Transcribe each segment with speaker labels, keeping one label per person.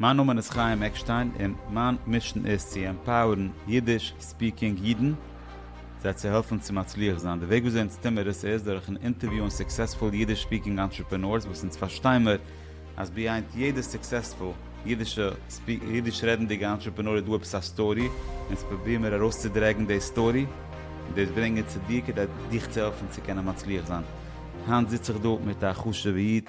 Speaker 1: מיין נאמען איז חיים עקשטיין און מיין מישן איז צו עמפאוערן אידיש ספיקינג אידן זיי צו העלפן צו מצליח זיין. די וועג וויאזוי אונז טוהן מיר עס איז דורכן אינטערוויוען סוקסעספול אידיש ספיקינג אנטרעפענארס וואס אונז פארשטיי מיר אז ביהיינד יעדע סוקסעספול אידיש רעדנדיגע אנטרעפענאר איז דא עפעס א סטארי אונז פראביר מיר ארויסצודרעגן די סטארי און דאס ברענגען צו דיר כדי דיך צו העלפן צו קענען מצליח זיין. היינט זיץ איך דא מיט א חשובע איד.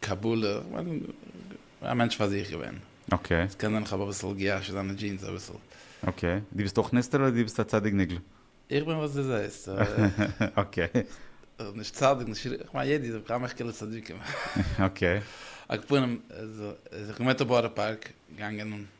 Speaker 1: קבלה, א מענטש פאר זיך געווען. אקעי. עס קען זיין איך האב אביסל געיאשעט זיינע דזשינס אביסל. אקעי. דו ביסט אויך נסתר אדער דו ביסט א צדיק נגלה? איך בין וואס דו זעסט. אקעי. נישט צדיק נישט רשע, כ'מיין יעדער איז אויף כמה חלאות צדיקים. אקעי. על כל פנים, איך בין געווען אויף בארא פארק, געגאנגען.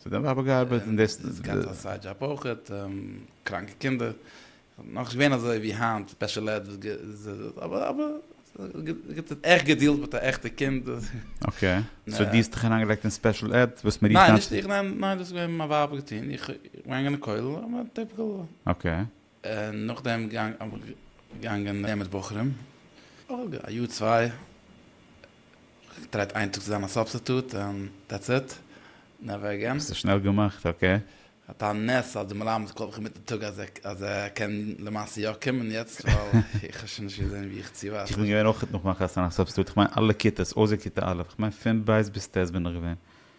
Speaker 1: ס'האט דעם פאפא געארבעט און דאס. און עס געהאט א סייד דזשאב אויכעט, קראנקע קינדער, נאך נישט געווען אזוי ווי היינט ספעשל עד וואס אבער אבער עכט געדילט מיט א עכטע קינד. אקעי, סאו דו האסט דיך אריינגעלייגט אין ספעשל עד וואס מ'רופט היינט. ניין נישט איך, ניין דאס האט געווען מיין ווייב געטון, איך געגאנגען אין כולל, טיפיקעל. אקעי. און נאכדעם געגאנגען נעמען מיט בחורים, א יאר צוויי, געטרייט איין טאג צו זיין א סובסטיטוט און דעטס איט, נעווער אגעין. האסט עס שנעל געמאכט, אקעי. האט א נס אז די מלמד קאלט מיך אינמיטן טאג אז ער קען למעשה יא קומען יעצט, ווייל איך האב שוין נישט געזען ווי איך צי ווייטער. איך בין געווען אויך נאך מיין חתונה א סובסטיטוט, איך מיין אלע כיתות אויסער כיתה א', איך מיין פון ב' ביז ט' בין איך געווען.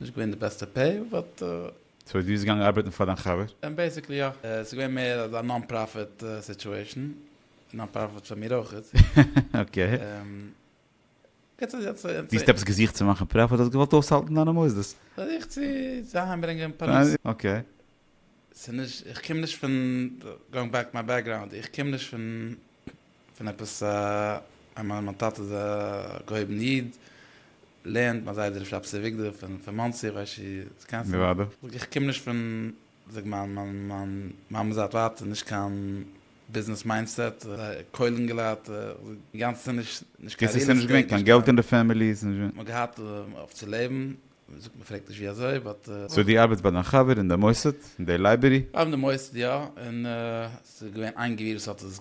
Speaker 1: נישט געווען די בעסטע פעי באט. סאו דו ביסט געגאנגען ארבעטן פאר דיין חבר? בעיסיקלי יא, ס'איז געווען מער אזא נאן פראפיט סיטועשן, נאן פראפיט פאר מיר אויך. אקעי. דו האסט עפעס געזוכט צו מאכן פראפיט? האסט געוואלט אויסהאלטן דיינע מוסדות? זיך צו אהיימברענגען פרנסה. אקעי. ס'איז נישט, איך קום נישט פון, גאוינג בעק טו מיי בעקגראונד, איך קום נישט פון פון עפעס א איינמאל מיין טאטע איז א געהויבן איד, לערנט מיין זיידע רבי שבתי אביגדור פון פון מאנסי, כ'ווייס נישט צו דו קענסט אים, זאג איך קום נישט פון זאג מיין מיין מיין מאמע זייט ווייט איז נישט קיין ביזנעס מיינדסעט, קוילן געלייט, זאג גאנצעטע נישט נישט קיין ריעל עסטעיט, נישט קיין, מ'האט געהאט אויף צו לעבן. מען זאגט מען פרעגט נישט ווי אזוי באט. סאו דו ארבעטסט ביי דיין חבר אין די מוסד אין די לייבערי? אין די מוסד יא, און ס'איז געווען איין גביר וואס האט עס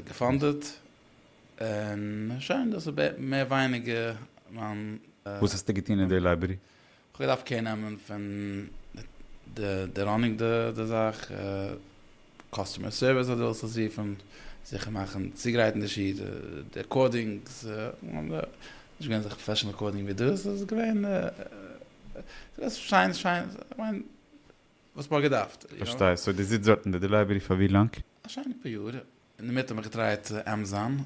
Speaker 1: געפאנדעט, און שוין דאס איז מער ווייניגער מיין. וואס האסטו געטון אין די לייבערי? כ'האב געדארפט קער נעמען פון די ראנינג די זאך, קאסטומער סערוויס אז דו ווילסט עס רופן, זיכער מאכן צוגרייט אין די שי ת, די רעקארדינגס, נישט געווען אזעלכע פראפעשענעל רעקארדינג ווי דאס, ס'איז געווען שיין שיין, כ'מיין וואס מ'האט געדארפט. פארשטיי, סאו דו זיצט דארט אין די דעלעווערי פאר ווי לאנג? א שיינע פאר יאר, אינדערמיט האב איך געטרייט עמעזאן,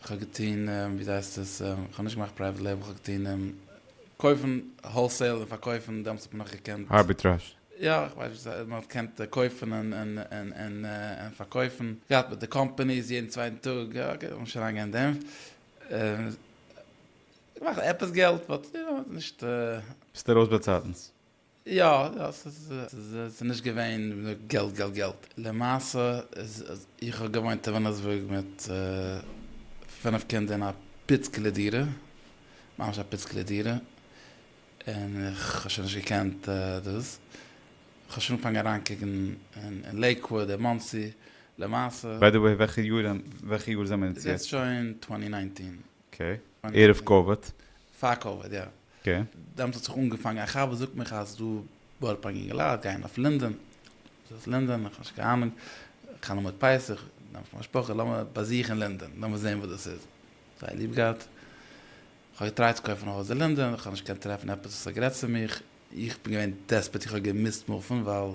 Speaker 1: כ'האב געטון ווי זייסט עס כ'האב נישט געמאכט פרייוועט לעיבל כ'האב געטון קויפן האלסעיל און פארקויפן דעמאלטס האט מען נאך געקענט ארביטראזש. יא כ'ווייס וואס ס'הייסט מ'האט געקענט קויפן און פארקויפן געהאט מיט די קאמפאניס יעדן צווייטן טאג אקעי לאמיר נישט אריינגיין אין דעם געמאכט עפעס געלט באט נישט. ביסט ארויס באצייטנס? יא יא ס'איז ס'איז נישט געווען געלט געלט געלט למעשה איז איך האב געוואוינט אין וויליאמסבורג מיט פֿינף קינדער אין א פיצקעלע דירה ממש א פיצקעלע דירה און איך האב שוין נישט געקענט דאס כ'האב שוין אנגעפאנגען אריינקוקן אין לעיקוואוד אין מאנסי למעשה. ביי די וועי וועלכע יאר וועלכע יאר זעמער אונז יעצט? ס'איז יעצט שוין טווענטי ניינטין. אקעי. ערב קאוויד. פאר קאוויד יא. דעמאלטס האט זיך אנגעפאנגען א חבר זאגט מיך אז דא בארא פארק אינגעלייט גייען אויף לינדען, וואס הייסט לינדען איך האב נישט קיין אנונג, חנוכה מיט פסח נעמט מיין משפחה לאמיר באזוכען לינדען לאמיר זעהן וואס דאס איז, זייער ליב געהאט, איך האב געטרייט צו קויפן א הויז אין לינדען איך האב נישט געקענט טרעפן עפעס וואס האט גערעדט צו מיך, איך בין געווען דעספערט איך האב געמוזט מופן ווייל.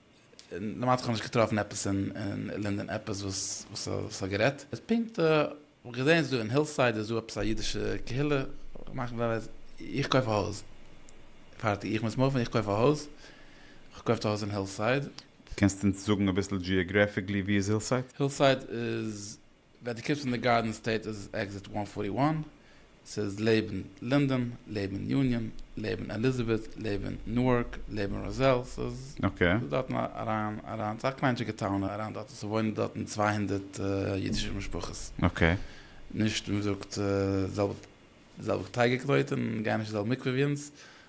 Speaker 1: און דערמאנט זיך כ'האב נישט געטראפן עפעס אין לינדען עפעס וואס וואס ס'האט גערעדט איז פונקט כ'האב געזען איז דא אין הילסייד איז דא עפעס א אידישע קהילה מאכן זיי וועז איך קויף א הויז פארטיג איך מוז מופן איך קויף א הויז כ'קויף די הויז אין הילסייד. קענסט אונז זאגן אביסל דזשיאגרעפיקלי ווי איז הילסייד? הילסייד איז. ווען דו קומסט פון די גארדען סטעיט איז עס עקזיט וואן פארטי וואן, ס'איז לעבן לינדען, לעבן יוניאן, לעבן עליזעבעט, לעבן נוארק, לעבן ראזעל, ס'איז דארטן אריין אריין, ס'איז א קליינטשיגע טאון אריין דארטן, ס'וואוינען דארטן צוויי הונדערט אידישע משפחות, נישט ווי מ'זאגט זעלבע זעלבע כתגר כזאת און גייען נישט אין זעלבע מקווה ווי אונז,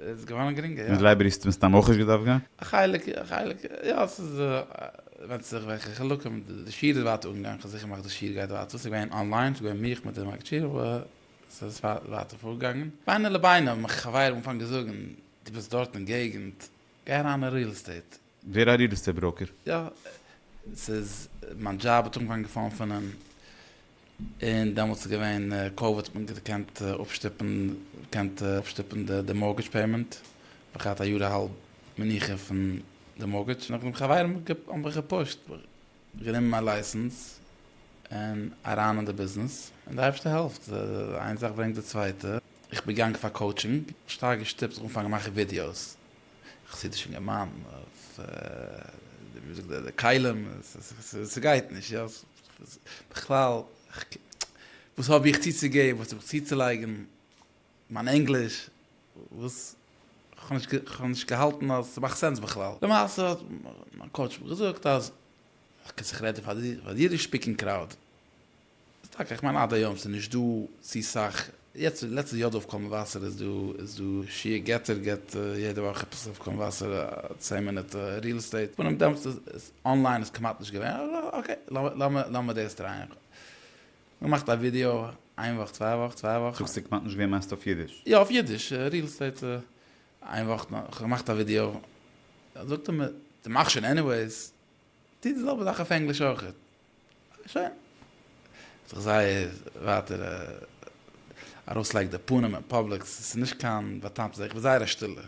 Speaker 1: איז געווארן גרינגער, יא. מיט לייבערי האסטו מסתם אויך נישט געדארפט גיין? א חלק, א חלק, יא, ס'איז, ווענדט זיך וועלכע חלקים, די שיעור איז ווייטער אנגעגאנגען, כ'האב זיכער געמאכט די שיעור גייט ווייטער, ס'איז געווען אנליין, ס'איז געווען מיך מיט די מגביר, אבער ס'איז ווייטער פארגעגאנגען. בינו לבינו האבן מיך חברים אנגעפאנגען זאגן, דו ביסט דארט אין געגנט, גיי אריין אין ריעל עסטעיט. ווער א ריעלעסטעט בראוקער? יא, ס'איז מיין דזשאב האט אנגעפאנגען געפאלן פון אים, און דעמאלטס איז געווען קאוויד האט מען געקענט אפשטופן געקענט אפשטופן די מארגעדזש פעימענט, כ'האב געהאט א יאר אהאלב מנוחה פון די מארגעדזש, נאכדעם חברים האבן מיך געפושט, גענומען מיין לייסענס און אריין אין די ביזנעס, און די אייבערשטער העלפט, איין זאך ברענגט די צווייטע, איך בין געגאנגען פאר קאוטשינג, שטארק געשטופט זיך אנפאנגען מאכן ווידיאוס, חסידישע געמיינדן אויף ווי מ'זאגט די כלים, ס'גייט נישט יא, בכלל וואס האב איך צוצוגעבן, וואס האב איך צוצולייגן, מיין ענגליש, וואס כ'האב נישט געהאלטן אז ס'מאכט סענס בכלל, למעשה האט מיין קאוטש מיר געזאגט אז כ'זיך רעדן פאר די אידיש ספיקינג קראוד. ס'טאקע איך מיין עד היום ס'איז נישט דא צו סאך, יעצט אין לעצטע יו ד אויף קול מבשר איז דא איז דא שיעור געטער געט יעדע וואך עפעס אויף קול מבשר א צען מינוט ריעל עסטעיט פונעם דעמאלטס איז אנליין איז כמעט נישט געווען אזוי אקעי לאמיר לאמיר דאס טרייען געמאכט א ווידעא איין וואך צוויי וואך צוויי וואך. זאגסט ס'כמעט נישט געווען מיינסטו אויף אידיש? יא אויף אידיש ריעל עסטעיט איין וואך כ'האב געמאכט א ווידעא זאגט ער מיר דו מאכסט שוין עניוועיס טוט די זעלבע זאך אויף ענגליש אויך. שוין. האט זיך זייער ווייטער ארויסלייגט די פנים אין פאבליק, ס'איז נישט קיין באטאמטע זאך, איך בין זייער א שטילער,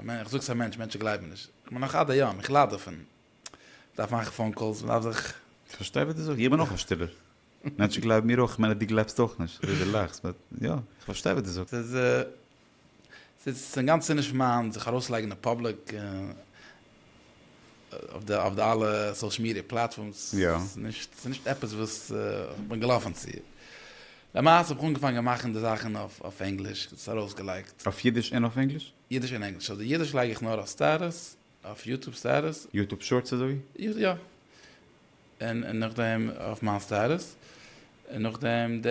Speaker 1: איך זאג עס א מענטש, מענטשן גלייבן נישט, איך בין נאך עד היום, איך לייד דערפון, מ'דארף מאכן פאון קאלס, מ'דארף זיך. איך פארשטיי וואס דו זאגסט, איך בין אויך א שטילער, מענטשן גלייבן מיר אויך, כ'מיין אז דו גלייבסט אויך נישט, אזוי דו לאכסט, באט יא, איך פארשטיי וואס דו זאגסט. ס'איז ס'איז אינגאנצן נישט מיין זיך ארויסלייגן אין פאבליק אויף די אלע סאושעל מידיע פלאטפארמס, ס'איז נישט עפעס וואס כ'בין געלאפן צו. למעשה האב איך אנגעפאנגען מאכן די זאכן אויף ענגליש, עס ארויסגעלייגט. אויף אידיש און אויף ענגליש? אידיש און ענגליש. אויף די אידיש לייג איך נאר אויף סטעטוס, אויף יוטוב סטעטוס. יוטוב שארטס אזוי? יא. און נאכדעם אויף מיין סטעטוס. און נאכדעם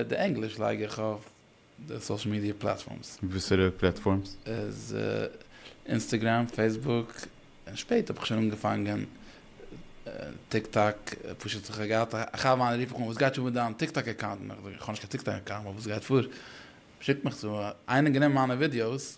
Speaker 1: די ענגליש לייג איך אויף. די סאשעל מידיע פלאטפארמס. וואסערע פלאטפארמס? איז אינסטעגרעם, פעיסבוק, און שפעט האב איך שוין אנגעפאנגען טיק טאק, פשוט איך האב געהאט א חבר מיינער רוף איך אן וואס גייט פאר מיט דיין טיק טאק אקאונט, איך זאג איך האב נישט קיין טיק טאק אקאונט, אבער וואס גייט פאר, שיקט מיך צו, איינער האט גענומען מיינע ווידיאוס,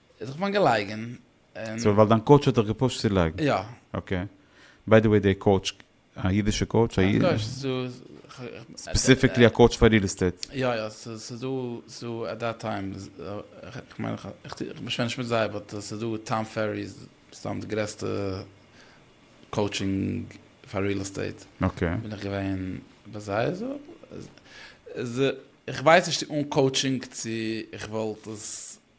Speaker 1: ער האט זיך געוואנט געלייגען און. סאו ווייל דיין קאוטש האט דיך געפושט צו לייגן? יא. אקעי. ביי די וועי די קאוטש א אידישע קאוטש? א אידישע קאוטש? ס'איז דא. ספעסיפיקלי א קאוטש פאר ריעל עסטעיט? יא יא ס'איז דא ס'איז דא עט דעט טיים כ'מיין איך שווער נישט מיט זיי באט ס'איז דא טאם פערי איז סתם די גרעסטע קאוטשינג פאר ריעל עסטעיט אקעי. בין איך געווען ביי זיי איז איך ווייס נישט צו אן קאוטשינג צו איך וואלט עס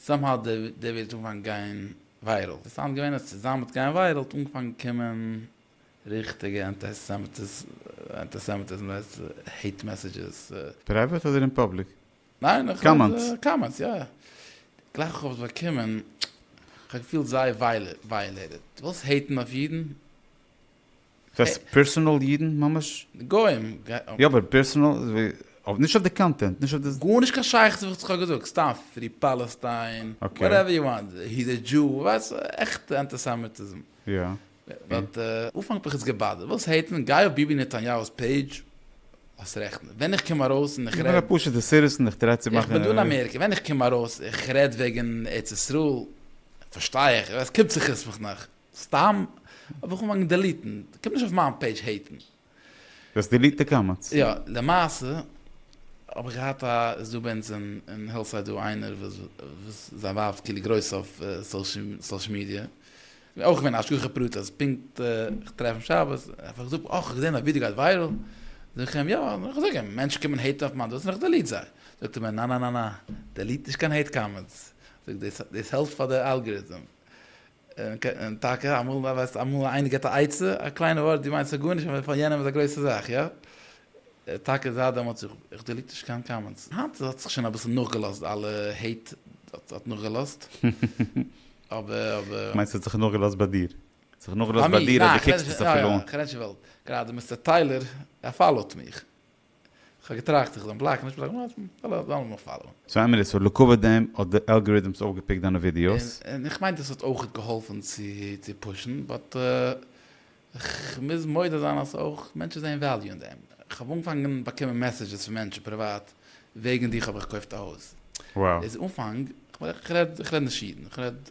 Speaker 1: סאם האו די די ווערט אנגעפאנגען גיין וויירעל ווי סאונד געווען אז צו זיין מיט גיין וויירעל האט אנגעפאנגען קומען ריכטיגע אנטעסעמעטיז אנטעסעמעטיזם לעצט העיט מעסעדזשעס. פרייוועט אדער אין פאבליק קאמענטס? ניין קאמענטס יא גלייך איך האב עס באקומען כ'האב געפילט זייער ווייאלעיטעד ווילסט העיטן אויף אידן? ס'הייסט פערסאנעל אידן ממש? גוים. יא אבער פערסאנעל אויף נישט אויף די קאנטענט נישט אויף די. גארנישט קיין שייכות וואס איך האב געזאגט סתם פרי פאלעסטיין וואטעווער יו וואנט היז א דזשו ווייסט עכטע אנטיסעמיטיזם. יא. באט אנפאנג האט מיך עס געבאדערט ווילסט העיטן גיי אויף ביבי נתניהו'ס פעידזש האסט רעכט ווען איך קום ארויס און איך רעד. איך בין א פשוטע סיטיזען איך טריי צו מאכן. איך בין דא אין אמעריקע ווען איך קום ארויס איך רעד וועגן ארץ ישראל פארשטיי איך עס קומט זיך עס מיך נאך. סתם האב איך אנגעפאנגען דעליטן, קום נישט אויף מיין פעידזש העיטן. דו האסט דעליט די קאמענטס? יא, למעשה האב איך געהאט א, איז דא ביי אונז אין הילסייד דא איינער וואס זיין ווייב איז כאילו גרויס אויף סאושעל מידיע, אויך געווען א השגחה פרטית אז פונקט איך טרעף אים שבת, ער האט מיר געזאגט, אוי כ'האב געזען דיין ווידיא גייט וויירעל, זאג איך אים, יא, איך זאג אים, מענטשן קומען העיטן אויף מיין דאס און איך דעליט זיי, זאגט ער מיר, נאנאנאנא, דעליט נישט קיין העיט קאמענטס, זאג דאס העלפט פאר די אלגעריטם. און טאקע אמאל ווייסט אמאל איינער געבט א עצה, א קליינע ווארט דו מיינסט עס גארנישט אבער פאר יענעם איז א גרויסע זאך, יא? טאקע זייט דעמאלטס איך דעליט נישט קיין קאמענטס, היינט האט זיך שוין אביסל נאכגעלאזט די אלע העיט האט נאכגעלאזט, אבער. מיינסט האט זיך נאכגעלאזט ביי דיר? האט זיך נאכגעלאזט ביי דיר אז דו קוקסט עס אפילו אן? יא יא, כ'רעד נישט וועלט, גראדע מיסטער טיילער ער פאלאוט מיך. כ'האב געטראכט איך זאל אים בלאקן נישט בלאקן ווייל ער דארף מיך פאלאווען. סאו עמילי סאו לקבוע דעם האט די אלגעריטעמס אויפגעפיקט דיינע ווידיאוס? און איך מיין דאס האט אויך געהאלפן צו צו פושן באט כ'מוז מודה זיין אז אויך מענטשן זעען וועליו אין דעם כ'האב אנגעפאנגען באקומען מעסעדזשעס פון מענטשן פריוואט וועגן דיך האב איך געקויפט א הויז איז אנפאנג כ'רעד נישט אידן כ'רעד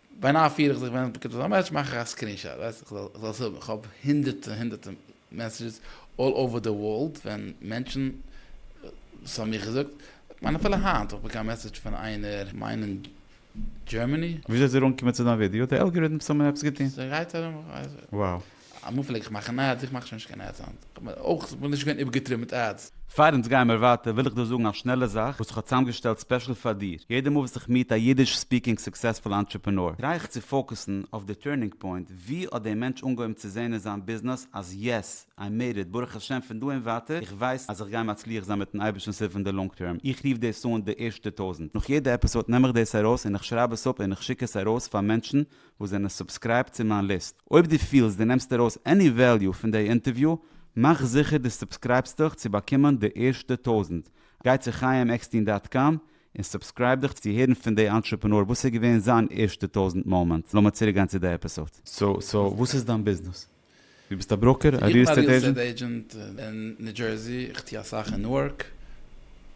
Speaker 1: ביינאכט פיר איך זיך ווען עס באקומט אזא מעסעדזש מאך איך א סקרין שאט ווייסט איך זאל עס האבן איך האב הונדערטע און הונדערטע מעסעדזשעס אלל אווער די ווארלד ווען מענטשן וואס האבן מיך געזאגט כ'מיין אפילו היינט האב איך באקומען א מעסעדזש פון איינער כ'מיין אין דזשערמעני. וויאזוי איז דיר אנגעקומען צו דיין ווידיאו? די אלגעריטמס האבן עפעס געטון? ס'גייט ארום, כ'ווייס נישט. Wow. אמאל פלעג איך מאכן עדס, איך מאך שוין נישט קיין עדס היינט, איך האב אויך זיך נישט געווען איבערגעטריבן מיט עדס. פאר אונז גיימער ווייטער וויל איך דא זאגן א שנעלע זאך וואס איך האב צוזאמגעשטעלט ספעשל פאר דיר, יעדע מאל וואס איך מיעט א אידיש ספיקינג סוקסעספול אנטרעפענאר טריי איך צו פאוקעסן אויף די טורנינג פוינט, ווי האט דער מענטש אנגעהויבן צו זעהן אין זיין ביזנעס אז יעס, איי מעיד איט, ברוך השם פון דא און ווייטער איך ווייס אז איך גיי מצליח זיין מיטן אייבערשטנ'ס הילף אין די לאנג טערם, איך רוף דאס אן די ערשטע טויזנט, נאך יעדע עפיסאד נעם איך דאס ארויס און איך שרייב עס אפ און איך שיק עס ארויס פאר מענטשן וואס זענען סובסקרייבט צו מיין ליסט. אויב דו פילסט דו נעמסט ארויס עני וועליו פון דעי אינטערוויו, מאך זיכער דו סובסקרייבסט דיך צו באקומען די ערשטע טויזנט. גיי צו חיים עקסטין דאט קאם און סובסקרייב דיך צו הערן פון דעי אנטרעפענאר וואס איז געווען זיין ערשטע טויזנט מאמענט. לאמיר צוריק גיין צו די עפיסאד. סאו וואס איז דיין ביזנעס? דו ביסט א בראוקער? א ריעל עסטעיט עידזשענט? איך בין א ריעל עסטעיט עידזשענט אין ניו דזשערסי, איך טו אסאך אין נוארק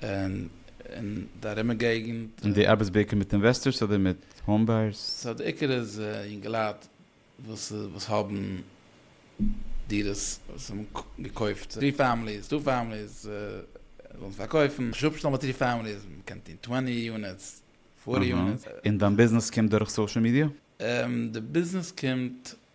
Speaker 1: און אין די ארימע געגענט. און דו ארבעטסט בעיקר מיט אינוועסטארס אדער מיט האום בייערס? סא די עיקר איז יונגעלייט וואס האבן דירות וואס האבן געקויפט טרי פעמיליס, טו פעמיליס, ווילן עס פארקויפן, נישט אפשטעלן ביי טרי פעמיליס, מען קען טון טווענטי יוניטס, פארטי יוניטס. און דיין ביזנעס קומט דורך סאשעל מידיע? די ביזנעס קומט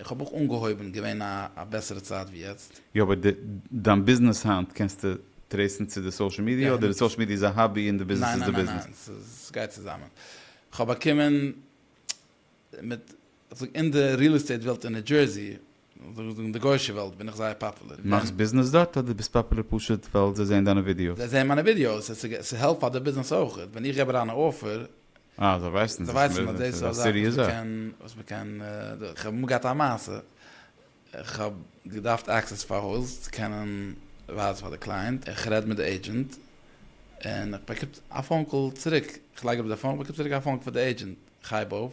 Speaker 1: איך האב אויך אנגעהויבן, געווען א בעסערע צייט ווי יעצט. יא אבער די דיין ביזנעס היינט קענסטו טרעיסן צו די סאושעל מידיע אדער די סאושעל מידיע איז א האבי און די ביזנעס איז די ביזנעס? ניין ניין ניין ס'גייט צוזאמען כ'האב באקומען מיט כ'זאג אין די ריעל עסטעיט וועלט אין ניו דזשערסי זאל איך זאגן די גוישע וועלט בין איך זייער פאפולער. מאכסט ביזנעס דארט אדער ביסט פאפולער פשוט ווייל זיי זעען דיינע ווידיאוס? זיי זעען מיינע ווידיאוס ס'העלפט פאר די ביזנעס אויך ווען איך געב אריין א אפער אה, זיי ווייסן זיי ווייסן אז דאס איז א זאך וואס מ'קען, וואס מ'קען דא, כ'האב אמאל געהאט א מעשה, כ'האב געדארפט עקסעס פאר הויז צו קענען ווייזן פאר די קלייענט, איך רעד מיט די עידזשענט, און איך באקום א פאון קאל צוריק, כ'לייג אראפ די פאון, באקום צוריק א פאון קאל פון די עידזשענט, כ'הייב אויף,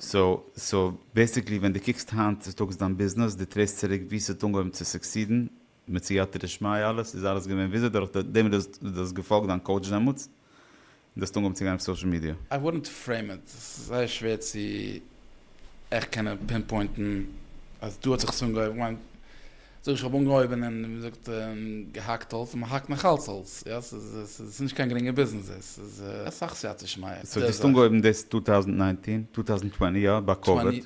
Speaker 1: סאו סאו בעסיקלי ווען די קוקסט היינט צוטאגס דיין ביזנעס די טרעסט צוריק ווי ס'האט אנגעהויבן צו סוקסידן מיט סייעתא דשמיא אלעס איז אלעס געווען וויאזוי דורך דעם וואס דו האסט געפאלגט דיין קאוטש דעמאלטס און דו האסט אנגעהויבן צו גיין אויף סאושעל מידיע. איי וואלנט פרעים איט, עס איז זייער שווער צו עכט קענען פינפוינטן אז דא האט זיך עס אנגעהויבן, איך מיין. זאג איך האב אנגעהויבען און ווי מ'זאגט געהאקט האלץ און מ'האקט נאך אלץ האלץ, יא ס'איז נישט קיין גרינגע ביזנעס עס איז אסאך סייעתא שמיא. סאו דו האסט אנגעהויבן דאס טו טאוזענט ניינטין, טו טאוזענט טווענטי יא ביי קאוויד,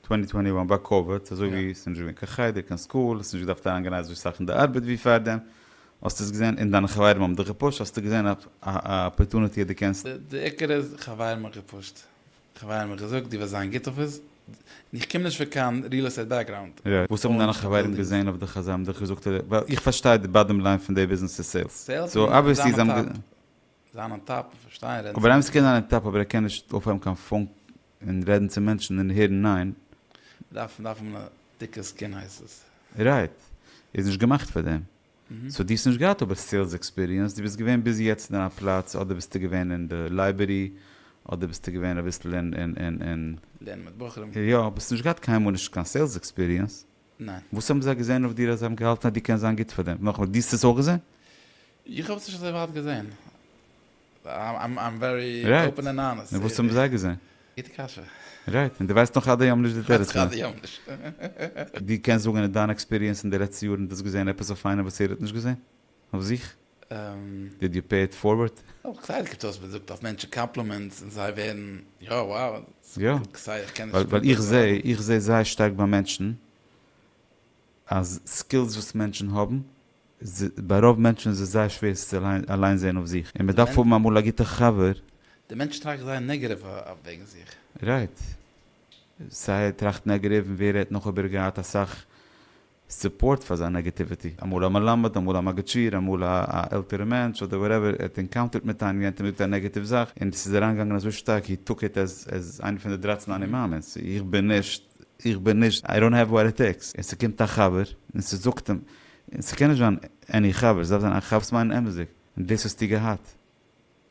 Speaker 1: טווענטי טווענטי וואן ביי קאוויד אזוי ווי עס איז נישט געווען קיין חדר קיין סקול עס איז נישט געדארפט אריין גיין אזוי סאך אין די ארבעט ווי פארדעם, האסט עס געזען און דיינע חברים האבן דיך געפושט האסטו געזען א אפערטוניטי אז דו קענסט. די עיקר איז חברים האט געפושט. כ'האב איהם א געזאגט דו וועסט זיין גוט אויף עס, איך קום נישט פון קיין ריעל עסטעיט בעקגראונד. יא, וואס האבן דיינע חברים געזעהן אויף דיך אז זיי האבן דיך געזאגט אדער, ווייל איך פארשטיי די באדעם ליין פון די ביזנעס איז סעילס, סעילס און זיין אן טאפ, זיין אן טאפ און פארשטיין רעדן צו מענטשן. אבער איימס קען זיין אן טאפ אבער ער קען נישט אויפהייבן קיין פאון און רעדן צו מענטשן און הערן ניין. מ'דארף מ'דארף האבן א דיקע סקין הייסט עס. רייט. איז נישט געמאכט פאר דעם. סאו דו האסט נישט געהאט אבער סעילס עקספיריענס, דו ביסט געווען ביז יעצט אין א פלאץ אדער ביסטו געווען אין די לייבערי אדער ביסטו געווען אביסל אין. לערנען מיט בחורים. יא, אבער האסט נישט געהאט קיינמאל נישט קיין סעילס עקספיריענס. ניין. וואס האבן זיי געזען אויף דיר אז זיי האבן געהאלטן אז דו קענסט זיין גוט פאר דעם? נאכאמאל, דו האסט עס אויך געזען? איך האב עס נישט אזוי ווייט געזען. רייט, און וואס האבן זיי געזען? גוטע קשיא. רייט, און דו ווייסט נאך עד היום נישט די תירוץ פון דעם. דו קענסט זאגן אין דיין עקספיריענס אין די לעצטע יארן דאס געזען עפעס אויף איינעם וואס ער האט נישט געזען אויף זיך? דיד יו פעי איט פארווארד? אויך כסדר קומט אויס מען זאגט אויף מענטשן קאמפלימענטס און זיי ווערן יא וואו. יא, ווייל איך זע איך זע זייער שטארק ביי מענטשן אז סקילס וואס מענטשן האבן ביי רוב מענטשן איז עס זייער שווער צו אליין זען אויף זיך, און מען דארף האבן אמאל א גוטע חבר. די מענטש טראכט זייער נעגעטיוו וועגן זיך. רייט. סיי ער טראכט נעגעטיוו און ווער רעדט נאך אויב ער געהאט אסאך סופארט פאר זיין נעגעטיוויטי, אמאל א מלמד, אמאל א מגיד שיעור, אמאל א עלטערע מענטש, אדער וואטעווער, ער האט ענקאונטערט מיט איינעם, יענטער האט געזאגט א נעגעטיוו זאך, און עס איז אריינגעגאנגען אזוי שטארק, הי טוק איט עז עז איינע פון די דרייצן אני מאמין'ס, איך בין נישט. איך בין נישט, איי דאנט העוו וואט איט טעיקס, און ס'קומט א חבר און ס'זאגט אים, און ס'קען נישט זיין עני חבר, ס'דארף זיין א חבר וואס מיינט אמת'דיג, און דאס האסטו געהאט,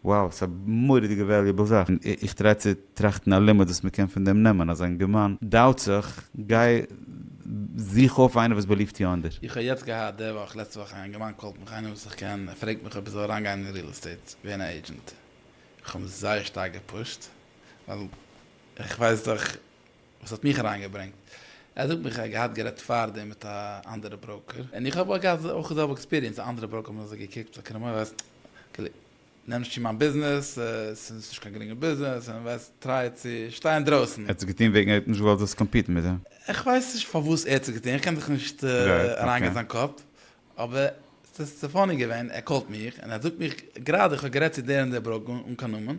Speaker 1: וואו, ס'איז א מורא'דיגע וועליובעל זאך, און איך טריי צו טראכטן א לימוד וואס מ'קען פון דעם נעמען, אז אינגערמאן דאוט זיך, גיי זוך אויף איינער וואס בעליווט יו אין דיר. איך האב יעצט געהאט די וואך, לעצטע וואך, א יונגערמאן קאלט מיך, איינער וואס איך קען, ער פרעגט מיך אויב איך זאל אריינגיין אין ריעל עסטעיט, ווערן א עידזשענט, איך האב אים זייער שטארק געפושט, ווייל איך ווייס דאך וואס האט מיך אריין געברענגט, ער זאגט מיך ער האט געהאט גערעדט פארדעם מיט א אנדערע בראוקער, און איך האב אויך געהאט אויך די זעלבע עקספיריענס, א אנדערע בראוקער האט מיר אזוי געקוקט לויט קרעמער וועסט כאילו נעם נישט צו מיין ביזנעס, עס איז נישט קיין גרינגע ביזנעס, און וועסט טרייען צו שטיין אינדרויסן. ער האט עס געטון וועגן ער האט נישט געוואלט זאלסט קאמפיטן מיט אים? איך ווייס נישט פארוואס ער האט עס געטון, איך קען זיך נישט אריין גיין אין זיין קאפ, אבער עס איז צו פאני געווען, ער קאלט מיך און ער זאגט מיך גראדע איך האב גערעדט צו דער און דער בראוקער אן קיין נאמען,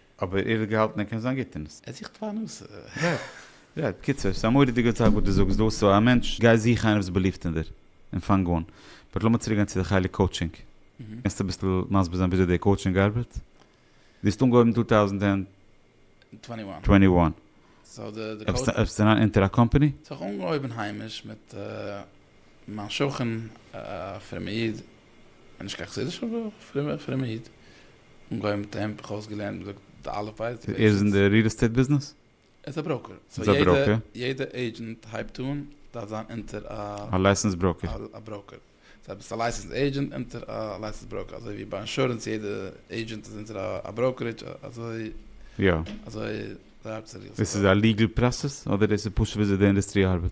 Speaker 1: אבער ער האט געהאלטן ער קען זיין גוט אין עס. ער זוכט פרנסה. רעד, בקיצור, ס'איז א מורא'דיגע זאך וואס דו זאגסט דא, סאו א מענטש, גיי זוך איינער וואס איז באליבט אין דיר, און פאנג אן. באט לאמיר צוריק גיין צו די חלק קאוטשינג. קענסט אביסל מסביר זיין וויאזוי די קאוטשינג ארבעט? דו האסט אנגעהויבן אין טו טאוזנט ענד טווענטי וואן. סאו די די קאוטש. ארבעסט אריין אונטער א קאמפעני? סאו איך האב אנגעהויבן היימיש מיט מיין שכן א פרומע איד און נישט קיין חסידישע וואך, פרומער פרומער איד, אן גוי מיט העמד, איך האב עס געלערנט, מען זאגט די אלף בית די בית. ער איז אין די ריעל עסטעיט ביזנעס? ער איז א בראוקער, סאו יעדע עידזשענט הייבט אן דארף זיין אונטער א. א לייסענס בראוקער. א בראוקער, סאו ביסט א לייסענס עידזשענט אונטער א לייסענס בראוקער, אזוי ווי ביי אינשורענס יעדע עידזשענט איז אונטער א בראוקערידזש אזוי. יא. אזוי ארבעט עס אין ריעל עסטעיט. דאס איז א ליגעל פראסעס אדער דאס איז פשוט וויאזוי די אינדוסטרי ארבעט?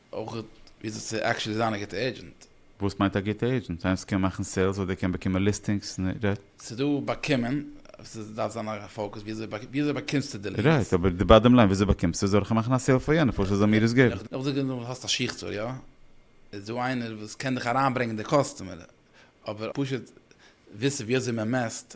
Speaker 1: אויך וויאזוי צו עקשעלי זיין א גוטע עידזשענט. וואס מיינט א גוטע עידזשענט? איינס וואס קען מאכן סעילס אדער קען באקומען ליסטינגס און רייט? ס'איז דא באקומען, ס'איז דארף זיין א פאוקוס וויאזוי באקומסטו די ליעדס. רייט, אבער די באדעם ליין וויאזוי באקומסטו זאל איך מאכן א סעיל פאר יענער פשוט ער זאל מיר עס געבן? איך זאג נישט אז האסט א שיך צו, יא איז דא איינער וואס קען דיך אריינברענגען די קאסטומער, אבער פשוט וויסן וויאזוי מען מעסט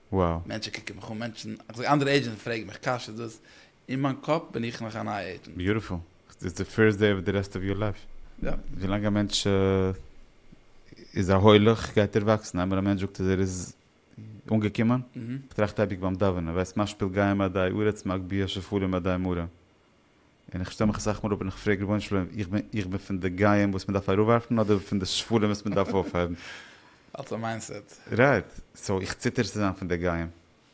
Speaker 1: wow. מענטשן קוקן מיך אן, מענטשן, איך זאג אנדערע עידזשענטס פרעגן מיך קאשעס דאס, אין מיין קאפ בין איך נאך א נייע עידזשענט. ביוטיפול, איטס די פירסט דעי אוו די רעסט אוו יור לייף, ווילאנג א מענטש איז א הולך גייט ער וואקסן, איינמאל א מענטש זאגט אז ער איז אנגעקומען, איך טראכט אייביג ביים דאווענען, וועסט משפיל גוים עדי ארץ מגביה שפלים עדי מרה, און איך שטעל מיך אסאך מאל אפ און איך פרעג רבונו של עולם איך בין איך בין פון די גויים וואס מען דארף אראפווארפן אדער פון די שפלים וואס מען דארף אויפהייבן. אלס א מיינדסעט. רייט. סאו איך ציטער צו זיין פון די גויים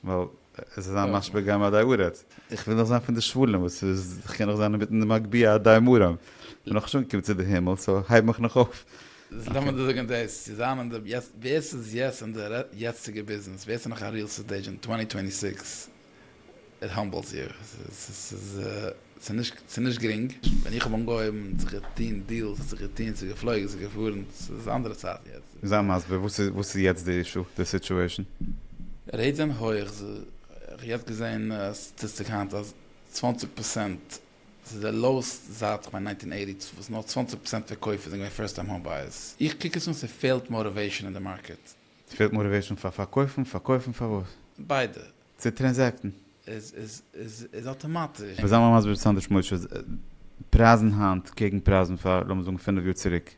Speaker 1: ווייל עס איז א משבר גוים עדי ארץ. איך וויל דאך זיין פון די שפלים וואס איז איך קען נאך זיין אינמיטן די מגביה עדי מרום. איך בין נאך נישט אנגעקומען צו די הימל סאו הייב מיך נאך אויף. לאמיר דיר זאגן דאס, צו זיין אין די יעצט ווער ס'איז יעצט אין די יעצטיגע ביזנעס ווער ס'איז נאך א ריעל סטעיט עידזשענט טווענטי טווענטי סיקס איט האמבלס יו. ס'איז נישט גרינג. ווען איך האב אנגעהויבן האט זיך געטוהן דילס, האט זיך געטוהן, ס'איז געפלויגן, ס'איז געפארן, ס'איז אנדערע צייטן יעצט. זיי מסביר וואס איז יעצט די אישו, די סיטועשן? רעיטס זענען הויעך, כ'האב יעצט געזעהן א סטאטיסטיק היינט אז צוואַנציק פראצענט, ס'איז די לאועסט זייט כ'מיין נײַנצן הונדערט אַכט און אַכציק, וואס נאר צוואַנציק פראצענט פון קויפער זענען געווען פירסט טיים האום בייערס, איך קוק עס אן ס'פעלט מאטיוועישאן אין די מארקעט. ס'פעלט מאָטיוועישאָן פאר פארקויפן? פארקויפן פאר וואס? ביידע. צו טרענזעקטן. איז אטאמאטיש. מ'זאל מיך מסביר סאנדערש משה, פרייזן היינט קעגן פרייזן פאר לאמיר זאגן פינף יאר צוריק.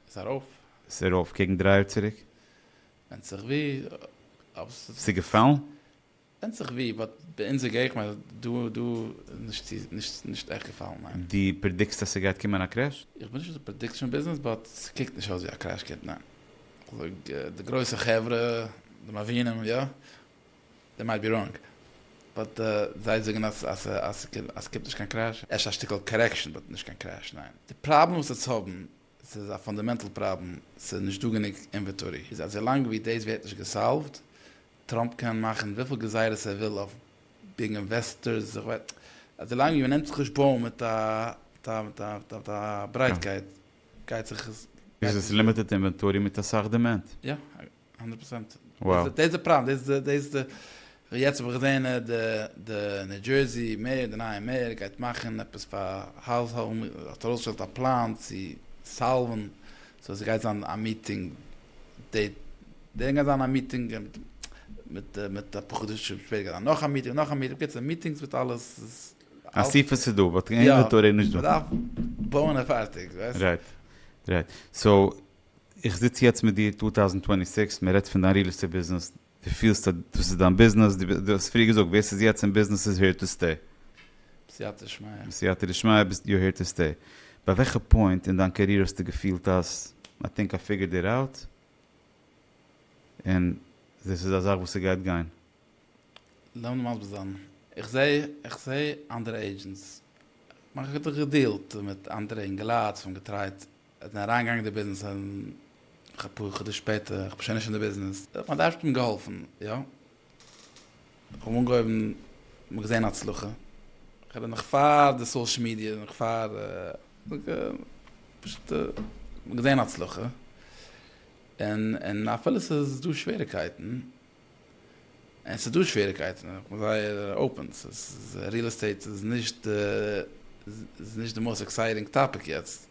Speaker 1: איז ארויף. איז ארויף קעגן דריי יאר צוריק. ווענדט זיך ווי. ס'געפאלן? ווענדט זיך ווי, באט ביי אונזער געגנט איז דא דא נישט צו נישט עכט געפאלן ניין. דו פרעדיקסט אז ס'גייט קומען א קרעש? איך בין נישט אין די פרעדיקשאן ביזנעס באט ס'קוקט נישט אויס ווי א קרעש קומט ניין. איך זאג די גרויסע חברה די מבינים יא, דעי מייט בי ראנג באט זיי זאגן אז אז ס'קומט נישט קיין קרעש, אפשר א שטיקל קארעקשאן באט נישט קיין קרעש ניין. די פראבלעם וואס עטס האבן ס'איז א פאנדעמענטל פראבלעם, ס'איז נישט דא גענוג אינוועטארי. איז אז ווילאנג ווי דאס ווערט נישט געסאלווד, טראמפ קען מאכן וויפיל גזירות ער וויל אויף ביג אינוועסטארס, איך ווייס, אז ווילאנג ווי מ'נעמט זיך נישט בויען מיט א מיט א מיט א מיט א ברייטקייט, גייט זיך עס. איז עס לימיטעד אינווענטארי מיט אסאך דימענד. יא. הונדערט פראצענט. דאס איז די פראבלעם, דאס איז דאס איז די, יעצט האב איך געזען די ניו דזשערסי מעיאר, די נייע מעיאר גייט מאכן עפעס פאר האוז האום, האט ארויסגעשטעלט א פלאן צו סאלווען, סאו עס גייט זיין א מיטינג די דעי, גייט זיין א מיטינג מיט מיט אפאר חדשים שפעטער גייט זיין נאך א מיטינג, נאך א מיטינג, בקיצור מיטינגס מיט אלעס. אסיפות איז דא באט אינווענטארי איז נישט דא. מ'דארף בויען און פארטיג, ווייסט. רייט רייט סאו. איך זיץ יעצט מיט דיר טו טאוזענד טווענטי סיקס מען רעדט פון דיין ריעל עסטעיט ביזנעס דו פילסט אז דאס איז דיין ביזנעס דו האסט פריער געזאגט ווער ס'איז יעצט אין ביזנעס איז העיר טו סטעי. בסייעתא דשמיא. בסייעתא דשמיא ביסט יו העיר טו סטעי. ביי וועלכע פוינט אין דיין קעריער האסטו געפילט אז איי טינק איי פיגערד איט אוט און דאס איז א זאך וואס ס'גייט גיין? לאמיר מסביר זיין. איך זע איך זע אנדערע עידזשענטס. כ'מיין כ'האב געדילט מיט אנדערע אינגעלייט וואס האבן געטרייט ער האט מיר אריינגעגאנגען אין די ביזנעס און נאך אפאר חדשים שפעטער, איך בין שוין נישט אין די ביזנעס, האט מיין טאטע אים געהאלפן, יא, איך האב אנגעהויבן, מ'האט געזען הצלחה, איך רעד נאך פאר די סאושעל מידיע, נאך פאר, פשוט מ'האט געזען הצלחה, און אפילו ס'איז דא שוועריקייטן, און ס'איז דא שוועריקייטן, איך בין זייער אופן, ס'איז ריעל עסטעיט איז נישט די, איז נישט די מאסט עקסייטינג טאפיק יעצט,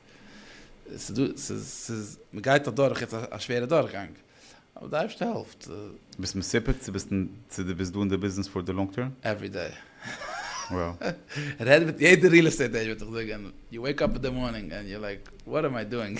Speaker 1: ס'איז דא, ס'איז, ס'איז, מ'גייט אדורך יעצט א שווערע דורכגאנג, אבער די אייבערשטער העלפט. ביסט מסופק צו ביסט, צו דו ביסט דא אין די ביזנעס פאר די לאנג טערם? עווערי דעי. וואו. רעד מיט יעדע ריעל עסטעיט עידזשענט וועט דיך זאגן, יו וועיק אפ אין די מארנינג ענד יו לייק, וואט עם איי דואינג?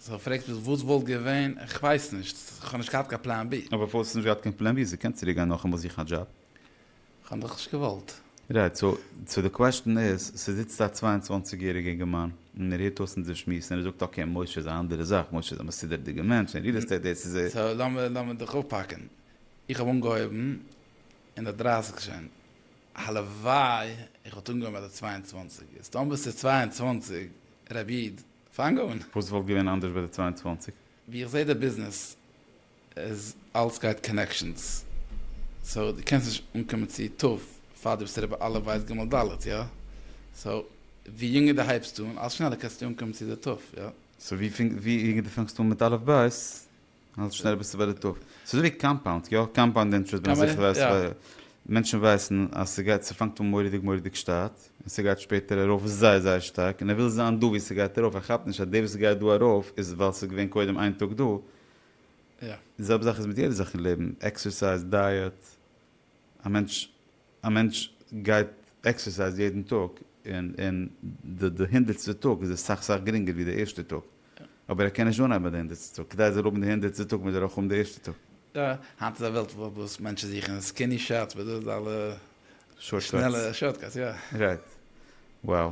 Speaker 1: זי פרעגט מיך וואס וואלט געווען, איך ווייס נישט, איך האב נישט געהאט קיין פלאן בי. אבער פארוואס האסטו נישט געהאט קיין פלאן בי? זי קען צוריק גיין נאכאמאל זוכן א דזשאב. כ'האב דאך נישט געוואלט. רייט, סאו סאו די קוועשטען איז, ס'זיצט א צוויי און צוואַנציק יעריגע אינגערמאן און ער הערט אויס אונזער שמועס און ער זאגט אקעי משה איז א אנדערע זאך, משה איז א מסודר'דיגע מענטש און ריעל עסטעיט דעיס איז. סאו לאמיר לאמיר דיך אויפהאקן, איך האב אנגעהויבן אין די דרייסיג שוין, הלוואי איך וואלט אנגעהויבן ביי די צוויי און צוואַנציק, איז טאמער ס'איז צוויי און צוואַנציק, ר' איד, פאנג אן. וואס וואלט געווען אנדערש ביי די צוויי און צוואַנציק? ווי איך זעה די ביזנעס איז אלץ גייט קאנעקשאנס, סאו דו קענסט נישט אנקומען צו טוב פאר דו ביסט אריבער א' ב' ג' ד', יא? סאו ווי יונגער דו הייבסט אן אלץ שנעלער קענסטו אנקומען צו די טוב, יא? סאו ווי יונגער דו פאנגסט אן מיט א' ב' האלט זיך שנעל ביסטו ביי די טאפ. ס'איז אזויווי קאמפאונד, יא? קאמפאונד אינטערעסט בין איך זיכער ווייסט ווייל מענטשן ווייסן אז ס'גייט ס'פאנגט אן מורא'דיג מורא'דיג שטייט און ס'גייט שפעטער ארויף זייער זייער שטארק און ער וויל זיין דא ווי ס'גייט ארויף ער כאפט נישט אז די וואס גייט דא ארויף איז ווייל ס'איז געווען קודם איין טאג דא. די זעלבע זאך איז מיט יעדע זאך אין לעבן, עקסערסייז, דייעט, א מענטש. א מענטש גייט עקסערסייז יעדן טאג, און די הונדערטסטע טאג איז עס סאך סאך גרינגער ווי די ערשטע טאג, אבער ער קען נישט אנהייבן ביי די הונדערטסטע טאג, כדי ער זאל האבן די הונדערטסטע טאג מוז ער אויך האבן די ערשטע טאג. יא, היינט איז א וועלט וואס מענטשן זוכן סקיני שאטס מיט דאס אלע שנעלע שארטקאטס, יא. רייט. וואו.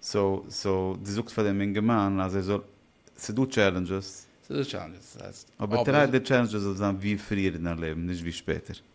Speaker 1: סאו, סאו דו זאגסט פאר דעם אינגערמאן אז ער זאל, ס'איז דא טשעלענדזשעס. ס'איז דא טשעלענדזשעס, ס'הייסט, אבער. אבער טריי די טשעלענדזשעס זאל זיין ווי פריער אין דיין לעבן, נישט ווי שפעטער.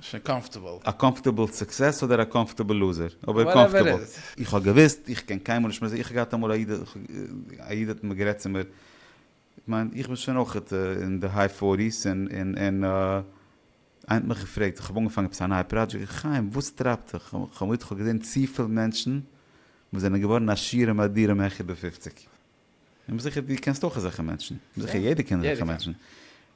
Speaker 1: שוין קאמפטעבל. א קאמפטעבל סוקסעס אדער א קאמפטעבל לוזער? אבער קאמפטעבל. איך האב געוואוסט, איך קען קיינמאל נישט מז. איך האב געהאט אמאל א איד, א איד האט מיר גערעדט צו מיר, איך מיין איך בין שוין אויך אין די היי פארטיס, און און און איינער האט מיך געפרעגט, איך האב אנגעפאנגען עפעס א נייע פראדזשעקט, חיים וואס טרייבט דיך? איך האב געזען צופיל מענטשן וואס זענען געווארן עשירים אדירים העכער די פופציג. איך בין זיכער דו קענסט אויך אזעלכע מענטשן, איך בין זיכער יעדער קען אזעלכע מענטשן,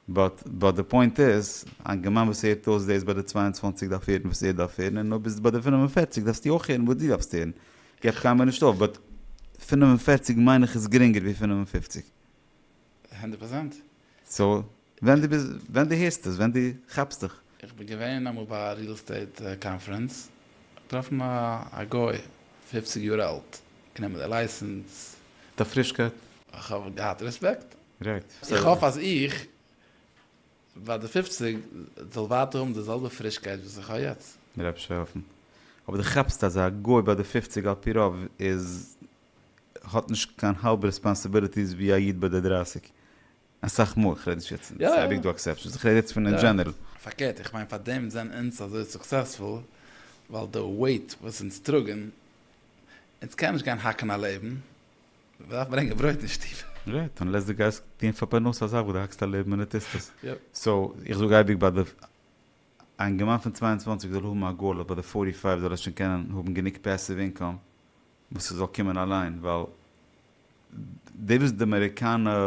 Speaker 1: באט באט די פוינט איז, א גמ' וואס הערט אויס דאס ביי די צוויי און צוואַנציק דארף הערן וואס ער דארף הערן, און אויב ביסטו ביי די פֿינף און פֿערציק דארפסטו אויך הערן וואס דו דארפסט הערן, געב קיינמאל נישט אויף, באט פֿינף און פֿערציק מיין איך איז גרינגער ווי פֿינף און פֿופֿציק. הונדערט פראצענט. סאו ווען דו ביסט, ווען דו הערסט עס, ווען דו כאפסט דיך. איך בין געווען אמאל ביי א ריעל עסטעיט קאנפרענס, געטראפן א גוי פֿופֿציק יאר אלט, גענומען די לייסענס. מיט א פרישקייט. איך האב געהאט רעספעקט. רייט. איך האף אז איך, ביי די פֿופֿציק, זאל ווייטער האבן די זעלבע פרישקייט וואס איך האב יעצט. מ'דארף נישט האפן. אבער דו כאפסט אז א גוי ביי די פֿופֿציק על פי רוב איז, האט נישט קיין האלב רעספאנסיביליטיס ווי א איד ביי די דרײַסיק. אסאך מאל, כ'רעד נישט יעצט, ס'איז אייביג דא עקסעפשענס, איך רעד יעצט פון אין דזשענערל. פארקערט, איך מיין פארדעם זענען אונז אזוי סוקסעספול, ווייל די וועיט וואס אונז טראגן, אונז קענען נישט גיין האקן א לעבן, מען דארף ברענגען ברויט אין שטוב. רייט, אנלעס דו גייסט טוהן פאר פרנסה א זאך וואס דו האקסט א לעבן און דו טוסט עס. סאו, איך זאג אייביג ביי די, א אינגערמאן פון צוויי און צוואַנציק זאל האבן א גאול אז ביי די פֿאָרטי פֿײַוו זאל ער שוין קענען האבן גענוג פעסיוו אינקאם, וואס ס'זאל קומען אליין, ווייל די וואס די אמעריקאנע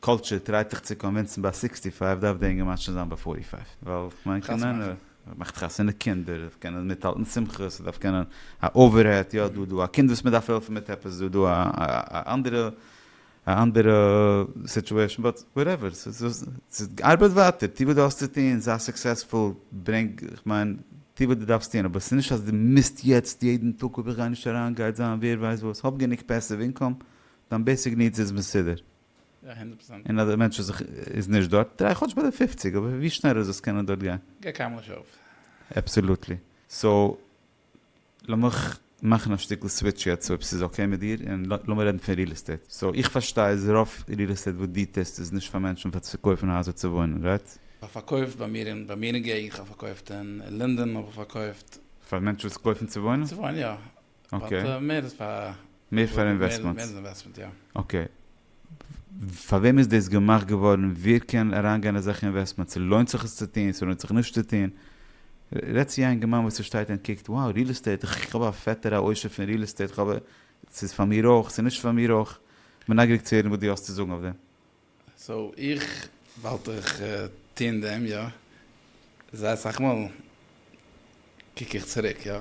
Speaker 1: קולטשור טרייט דיך צו קאנווינסן ביי סיקסטי פייוו דארף די אינגערמאן שוין זיין ביי פארטי פייוו, ווייל כ'מיין חתונה מאכן. קענען, מ'מאכט חתונה קינדער, ס'דארף קענען מיטהאלטן שמחות, ס'דארף קענען א אווערהעד, יא דא דא א קינד וואס מ'דארף העלפן מיט עפעס, דא דא א אנדערע א אנדערע סיטועשן באט וואטעווער, ארבייט ווייטער, טו וואס דו האסט צו טון, זיי סוקסעספול, ברענג, כ'מיין, טו וואס דו דארפסט טון, אבער ס'איז נישט אז דו מוזט יעצט יעדן טאג אויב איך גיי נישט אריין גייט זיין ווער ווייסט וואס, האב גענוג פעסיוו אינקאם, דיין בעיסיק נידס איז מסודר, און אז די מענטש איז איז נישט דארט, טריי כאטש ביי די פופציג, אבער ווי שנעלער זאלסט קענען דארט גיין. גיי קאמלעש אויף. אבסאלוטלי. סאו, לאמיך מאכן א שטיקל סוויטש יעצט אויב ס'איז אקעי מיט דיר, און לאמיר רעדן פון ריעל עסטעיט. סאו איך פארשטיי אז רוב ריעל עסטעיט וואס דו טוסט איז נישט פאר מענטשן פאר צו קויפן הייזער צו וואוינען, רייט? כ'האב פארקויפט ביי מיר אין ביי מיר אין געגנט, כ'האב פארקויפט אין לינדען האב איך פארקויפט. פאר מענטשן וואס קויפן צו וואוינען? צו וואוינען יא. אקעי. באט מער איז פאר. מער פאר אינוועסטמענטס. מער איז אינוועסטמענט יא. אקעי. פאר וועם איז דאס געמאכט געווארן? ווער קען אריינגיין אזעלכע אינוועסטמענטס? לוינט זיך עס צו טון? ס'לוינט זיך נישט צו טון? רעד צו א אינגערמאן וואס ער שטייט און קוקט, wow ריעל עסטעיט, כ'האב א פעטער א עושר פון ריעל עסטעיט, כ'האב א, ס'איז פאר מיר אויך, ס'איז נישט פאר מיר אויך? כ'בין נייגעריג צו הערן וואס דו האסט צו זאגן אויף דעם. סאו איך וואלט איך טון דעם יא, זייער סאך מאל קוק איך צוריק יא,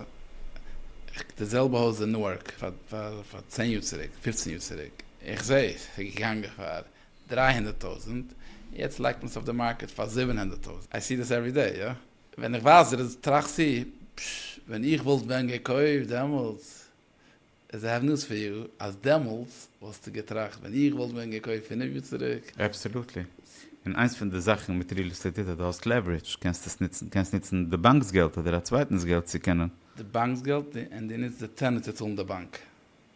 Speaker 1: איך די זעלבע הויז אין נוארק פאר פאר פאר צען יאר צוריק פיפצן יאר צוריק איך זעה עס איז געגאנגען פאר דרײַ הונדערט טויזענט יעצט לייגט מען עס אויף די מארקעט פאר זיבן הונדערט טויזענט איי סי דעס עווערי דעי יא ווען איך ווייס דער איז טראכסטו פשש ווען איך וואלט ווען געקויפט דעמאלטס. איז א הבנות פאר יאר אז דעמאלטס וואלסטו געטראכט ווען איך וואלט ווען געקויפט פינף יאר צוריק. אבסעלוטלי. און איינס פון די זאכן מיט ריעל עסטעיט איז אז דו האסט לעווערידזש, קענסט עס נוצן, קענסט נוצן די באנק'ס געלט אדער א צווייטנ'ס געלט צו קענען. די באנק'ס געלט און דו נוצט די טענער צו צאלן די באנק.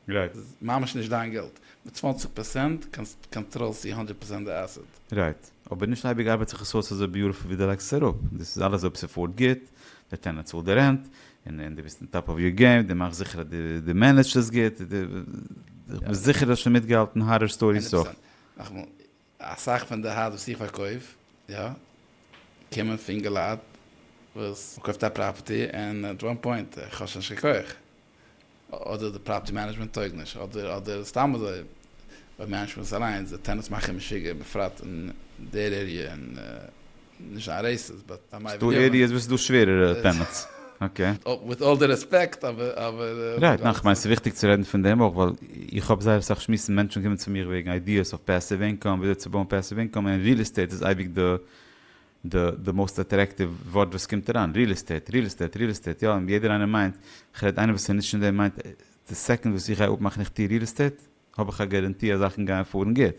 Speaker 1: רייט. ס'איז ממש נישט דיין געלט. מיט צוואַנציק פראצענט קאנטראלסטו הונדערט פראצענט די עסעט. רייט. אבער נישט אייביג ארבעט זיך עס אויס אזוי ביוטעפול ווי דו לייגסט עס אראפ. דאס איז אלעס אויב ס'פארט גוט, דער טענענט צאלט די רענט, און דו ביסט אן טאפ אוו יור געים, דו מאכסט זיכער אז דו מענעדזשט עס גוט, איך בין זיכער דו האסט שוין מיטגעהאלטן הארער סטאריס אויך. נאכאמאל, אסאך פון די הארדוועיר וואס איך פארקויף, יא, קומען פון געלייט וואס מ'קויפט א פראפערטי און עט וואן פוינט, איך האב שוין נישט קיין כח. אדער די פראפערטי מענעדזשמענט טויג נישט, אדער אדער סתם אזוי ביי מענעדזשמענטס אליינס, די טענענטס מאכן משוגע בפרט אין דער עריע, און נישט זיין רעיסיסט באט א מיידע גיווען. ס'דא עריעס וואס איז דא שווערערע טענענטס, אקעי. וויט אלל די רעספעקט אבער. רייט, ניין כ'מיין ס'איז וויכטיג צו רעדן פון דעם אויך ווייל איך האב זייער אסאך שמועסן מענטשן קומען צו מיך וועגן איידיעס אויף פעסיוו אינקאם וויאזוי צו בויען פעסיוו אינקאם און ריעל עסטעיט איז אייביג די די די מאוסט אטרעקטיוו ווארט וואס קומט אריין, ריעל עסטעיט, ריעל עסטעיט, ריעל עסטעיט, יא, און יעדער איינער מיינט, איך רעד איינער וואס איז נישט אין דעם מיינט, די סעקאנד וואס איך גיי אפמאכן איך טוה ריעל עסטעיט, האב איך א גאראנטי אז זאכן גייען פארן גוט.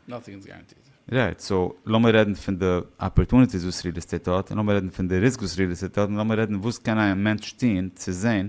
Speaker 1: נאטינג איז גאראנטיד. רייט, סאו לאמיר רעדן פון די אפערטוניטיס וואס ריעל עסטעיט האט, און לאמיר רעדן פון די ריסק וואס ריעל עסטעיט האט, און לאמיר רעדן וואס קען א מענטש טון צו זען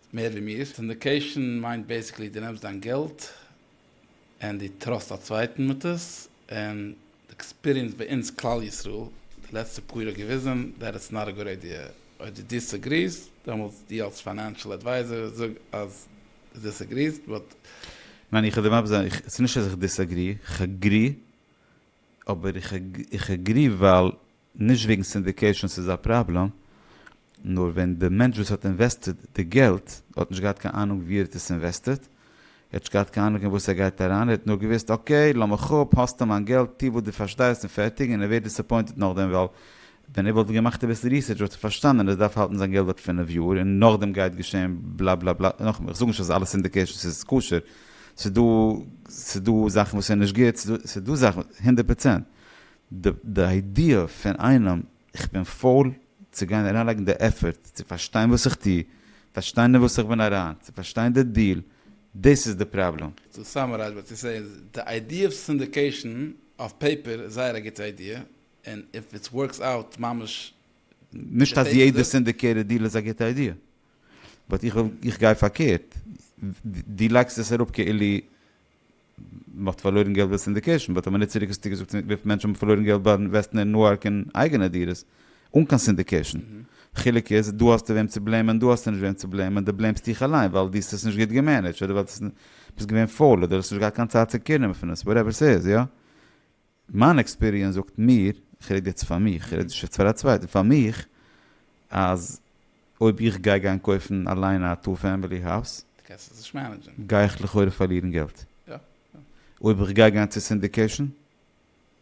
Speaker 1: מער ווי מיר. סינדיקעישן מיינט בעיסיקלי דו נעמסט דיין געלט און דו טראסט א צווייטן מיט עס, און די עקספיריענס ביי אונז כלל ישראל די לעצטע פאר יאר האט געוויזן דעט איטס נאט א גוד איידיע. אויב דו דיסעגריעסט, דעמאלטס דו אלס פיינענשל עדווייזער זאג אז דו דיסעגריעסט, באט. ניין איך וועל דיר מסביר זיין, איך ס'נישט אז איך דיסעגרי, איך עגרי, אבער איך עגרי ווייל נישט וועגן סינדיקעישאן ס'איז א פראבלעם, נאר ווען די מענטש וואס האט אינוועסטעד די געלט האט נישט געהאט קיין אהנונג ווי ער האט עס אינוועסטעד, ער האט נישט געהאט קיין אהנונג אין וואס ער גייט אריין, ער האט נאר געוואוסט אקעי לאמיך אפ, האסטו מיין געלט, טו וואס דו פארשטייסט און פערטיג, און ער ווערט דיסעפוינטעד נאכדעם ווייל ווען ער וואלט געמאכט אביסל ריסערטש וואלט ער פארשטאנען אז ער דארף האלטן זיין געלט דארט פֿינף יאר און נאכדעם גייט געשען בלא בלא בלא, נאכאמאל איך זאג נישט אז אלע סינדיקעישאנס איז כשר, ס'איז דא זאכן וואס איז נישט גוט, ס'איז דא זאכן הונדערט פראצענט. די די איידיע פון איינעם איך בין פויל צו גיין אריינלייגן די עפערט צו פארשטיין וואס איך טו, פארשטיין אין וואס איך בין אריין, צו פארשטיין די דיעל, דאס איז די פראבלעם. צו סאמערייז וואט יו סעי איז, די איידיע פון סינדיקעישן אויף פעיפער איז זייער א גוטע איידיע, און איף איטס ווארקס אוט ממש נישט אז יעדע סינדיקעיטעד דיעל איז א גוטע איידיע, באט איך גיי פארקערט, דו לייגסט עס אראפ כאילו מ'האט פארלוירן געלט ביי סינדיקעישן באט האט מען נישט צוריק עס צוגעזאגט צומיט וויפיל מענטשן האבן פארלוירן געלט ביי אינוועסטן אין נוארק אין אייגענע דירות אן קיין סינדיקעישן חילוק איז דא האסטו וועם צו בלעימען דא האסטו נישט וועם צו בלעימען די בלעימסט דיך אליין ווייל די האסט עס נישט גוט געמענעדזשט אדער ווייל די ביסט געווען פויל אדער האסט נישט געהאט קיין צייט צו קעירן פון עס וואטעווער סאיז יא מיין עקספיריענס זאגט מיר, איך רעד יעצט פאר מיך, איך רעד נישט יעצט פאר א צווייטער, פאר מיך, אז אויב איך גיי גיין קויפן אליין א טו פעמילי האוז, די קענסט עס נישט מענעדזשען. גיי איך לכאורה פארלירן געלט. יא. אויב איך גיי גיין צו סינדיקעישן,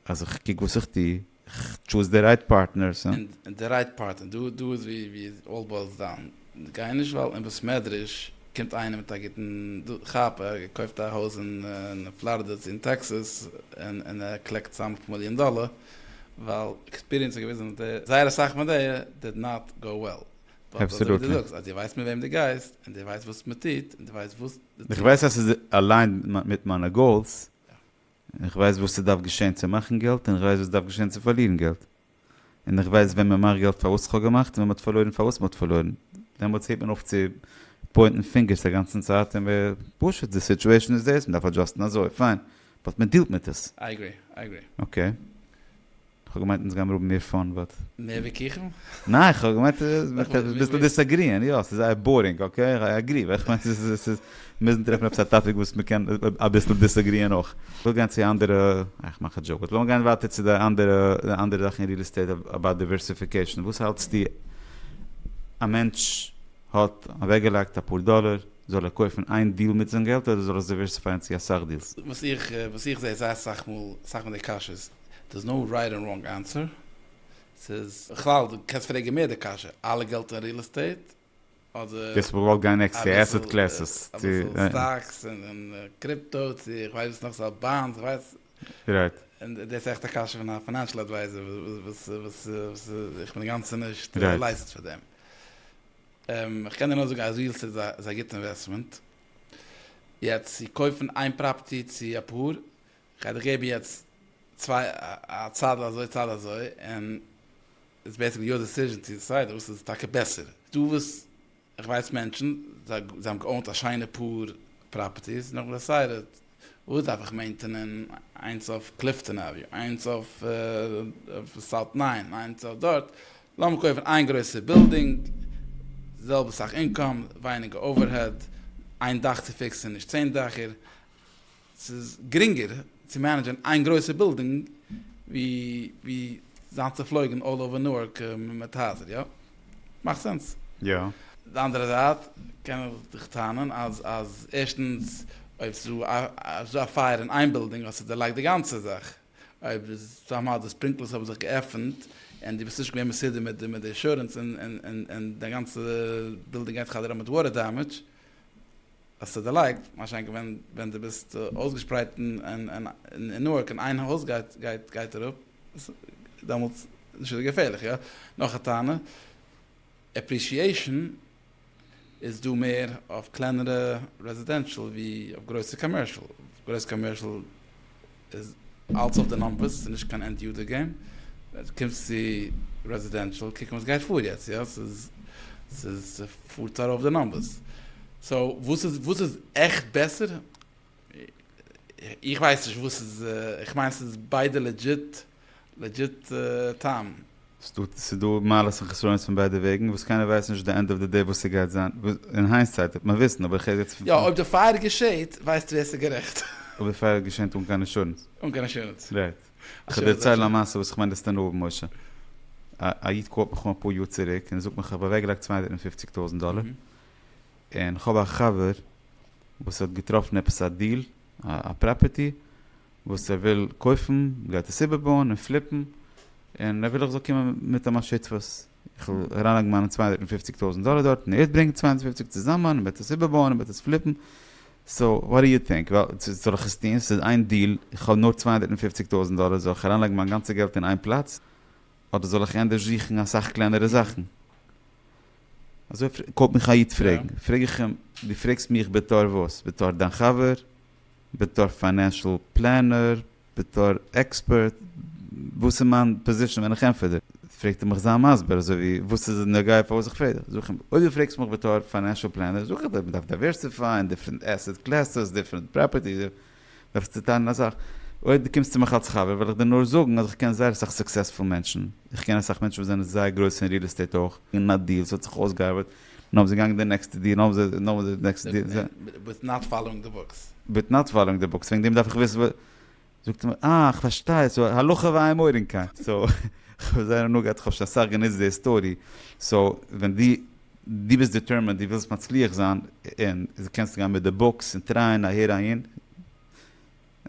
Speaker 1: אז איך קוק וואס איך טו, איך טשוז די רייט פארטנערס. און די רייט פארטנער, דא איז ווי אלל בוילס דאון. גיי נישט ווייל אין בית מדרש קומט איינער מיט א גוטן כאפ, ער האט געקויפט א הויז אין פלארידע צו אין טעקסעס און ער קלעקט צאם אויף מיליאן דאלער, ווייל עקספיריענס האט געוויזן אז זייער אסאך מיט די דיד נאט גאו וועל. באט אזוי ווי דו זאגסט אז דו ווייסט מיט וועם דו גייסט און דו ווייסט וואס מען טוט און דו ווייסט וואס דו טוסט. איך ווייס אז ס'איז אליינד מיט מיינע גאולס. איך ווייס וואס ס'דארף געשען צו מאכן געלט און איך ווייס וואס דארף געשען צו פארלירן געלט. און איך ווייס ווען מ'מאכט געלט פארוואס כ'האב געמאכט און ווען מ'האט פארלוירן פארוואס מ'האט פארלוירן. דעמאלטס הערט מען אויף צו פוינטן פינגערס א גאנצן צייט און מ'איז פשוט די סיטועשן איז דאס, מ'דארף אדזשאסטן אזוי, פיין, באט מ'דילט מיט עס. איי אגרי, איי אגרי. אקעי. כ'האב געמיינט אונז גיימיר האבן מער פאן באט. מער ווי קיכן? ניין איך האב געמיינט אביסל דיסעגריען יא ס'איז זייער בארינג אקעי איך אגרי אבער איך מיין ס'איז מוזן טרעפן עפעס א טאפיק וואס מ'קען אביסל דיסעגריען אויך. כ'וויל גיין צו אנדערע איי כ'מאך א דזשאוק באט לאמיר גיין ווייטער צו די אנדערע די אנדערע זאכן אין ריעל עסטעיט אבאוט דיווערסיפיקעישן וואס האלטסטו א מענטש האט אוועקגעלייגט אפאר דאלער זאל ער קויפן איין דיל מיט זיין געלט אדער זאל ער עס דיווערסיפייען צו אסאך דילס? וואס איך זע איז זייער אסאך מאל אסאך פון די קשיות. דער'ס נאו רייט ענד ראנג ענסער. ס'איז בכלל דו קענסט פרעגן מער די קשיא, אלע געלט אין ריעל עסטעיט אדער גייסט בכלל גיין עקסטער עסעט קלעסעס צו אביסל סטאקס און קריפטא צו איך ווייס וואס נאך ס'האט באנדס איך ווייס רייט און דער'ס עכט א קשיא פון א פינענשעל אדווייזער וואס וואס וואס איך בין אינגאנצען נישט לייסענסט פאר דעם. איך קען דיר נאר זאגן אז ריעל עסטעיט איז א איז א גוטע אינוועסטמענט. יעצט צו קויפן איין פראפערטי צו אפאר כ'גיי דיך געבן יעצט צוויי א צד אזוי צד אזוי און איטס בעיסיקלי יור דעסיזשען צו דיסיידען וואס איז טאקע בעסער. דו וואס איך ווייס מענטשן זיי האבן געאונט א שיינע פאר פראפערטיס נאכן דעסיידעט וואס דארף איך מעינטענען איינס אויף קליפטאן עוועניו איינס אויף סאוט ניין איינס אויף דארט לאמיר קויפן איין גרויסע בילדינג זעלבע סאך אינקאם ווייניגער אווערהעד איין דאך צו פיקסען נישט צען דעכער. ס'איז גרינגער צו מענעדזשען איין גרויסע בילדינג ווי זיין צופלויגן אלל אווער נוארק מיט הייזער, יא? מאכט סענס? יא. די אנדערע זייט קען איך דיך טענה'ן אז ערשטנס אויב ס'איז דא א פייער אין איין בילדינג האסטו דערלייגט די גאנצע זאך, אויב איז סאמהאו די ספרינקלערס האבן זיך געעפנט און דו ביסט נישט געווען מסודר מיט די אינשורענס און דיין גאנצע בילדינג גייט חדר אויף מיט וואטער דעמעדזש. האסט עס דערלייגט? מה שאין כן ווען דו ביסט אויסגעשפרייט אין נוארק און איין הויז גייט אראפ, דעמאלטס איז שוין געפערליך, יא? נאך א טענה, עפרישיעישאן איז דא מער אויף קלענערע רעזידענשאל ווי אויף גרויסע קאמערשאל, גרויסע קאמערשאל איז אלץ אויף די נומבערס, ס'איז נישט קיין ענד יאר געים, קומסט צו רעזידענשאל קוקן וואס גייט פאר יעצט, יא ס'איז ס'איז ס'פארט ארויף די נומבערס, סאו וואס איז וואס איז עכט בעסער? איך ווייס נישט וואס איז, איך מיין ס'איז ביידע לעדזשיט. לעדזשיט טעם. ס'איז דא מעלות און חסרונות פון ביידע וועגן, וואס קיינער ווייסט נישט די ענד אוו די דעי וואס ס'גייט זיין, אין היינסייט וועט מען וויסן, אבער איך רעד יעצט פון. יא אויב די פייער געשעהט ווייסטו ווער ס'איז גערעכט. אויב די פייער געשענט אן קיין אינשורענס. אן קיין אינשורענס. רייט. כ'וועל דיר דערציילן א מעשה וואס כ'מיין דאס טון אהבן משה. א א איד קאלט מיך אן אפאר יאר צוריק און זאגט מיך כ'האב אוועקגעלייגט צוויי הונדערט און פופציג טויזנט דאלער און כ'האב א חבר וואס האט געטראפן עפעס א דיל א פראפערטי וואס ער וויל קויפן גייט עס איבערבויען און פליפן, און ער וויל איך זאל קומען מיט עם א שותפות, איך וועל אריינלייגן מיינע צוויי הונדערט און פופציג טויזענט דאלער דארט און ער וועט ברענגן צוויי הונדערט און פופציג צוזאמען און וועט עס איבערבויען און וועט עס פליפן, סא וואט די יו טינק, זאל איך עס טון, ס'איז איין דיל, איך האב נאר צוויי הונדערט און פופציג טויזענט דאלער, זאל איך אריינלייגן מיין גאנצע געלט אין איין פלאץ, אדער זאל איך ענדערש זוכן אסאך קלענערע זאכן? אזוי קויפט מיך א איד פרעגן, פרעג איך עם, דו פרעגסט מיך בתור וואס? בתור דיין חבר? בתור פיינענשעל פלענער, בתור עקספערט, וואס איז מיין פאזישען ווען איך ענפער דיר? פרעגט ער מיך זיי מסביר אזוי ווי וואס איז נוגע פאר וואס איך פרעג דיר? זאג איך אים אויב דו פרעגסט מיך בתור פיינענשעל פלענער זאג איך דיר מען דארף דייווערסיפייען דיפרענט עסעט קלעסעס דיפרענט פראפערטיס דו דארפסט צוטיילן א סאך אויב דו קומסט צו מיך אלס חבר וועל איך דיר נאר זאגן אז איך קען זייער אסאך סוקסעספול מענטשן איך קען אסאך מענטשן וואס זענען זייער גרויס אין ריעל עסטעיט אויך און א דיעל ס'האט זיך אויסגעארבעט נאר ווען זיי גייען די נעקסטע דיר נאר ווען זיי די נעקסטע דיר זיי. וויט נאט פאלאוינג די בוקס. וויט נאט פאלאוינג די בוקס וועגן דעם דארף איך וויסן וואס. זאגט ער מיר אה כ'פארשטיי סאו הלכה והימורים כאן סאו כ'האב זייער הנאה געהאט כ'האב שוין אסאך גענוצט די היסטארי סאו ווען די די ביסט דיטערמענד די ווילסט מצליח זיין און קענסט גיין מיט די בוקס און טרייען אהער אהין.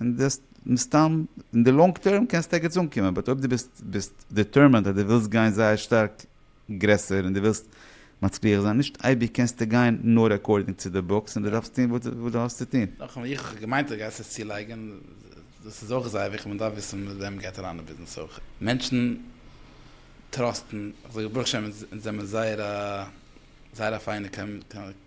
Speaker 1: און דאס מסתם אין די לאנג טערם קענסטו ערגעץ אנקומען, באט אויב דו ביסט ביסט דיטערמענד אז דו ווילסט גיין זייער שטארק גרעסער און דו ווילסט מצליח זיין, נישט אייביג קענסטו גיין נאר אקארדינג צו די בוקס און דו דארפסט טון וואס דו האסט צו טון. נאכאמאל איך האב געמיינט אז דו גייסט עס צולייגען, דאס איז אויך זייער וויכטיג, מען דארף וויסען מיט וועם מען גייט אריין אין ביזנעס אויך, מענטשען טראסטען, איך זאג ברוך השם אונז זעמער זייער א זייער א פיינע קאמ.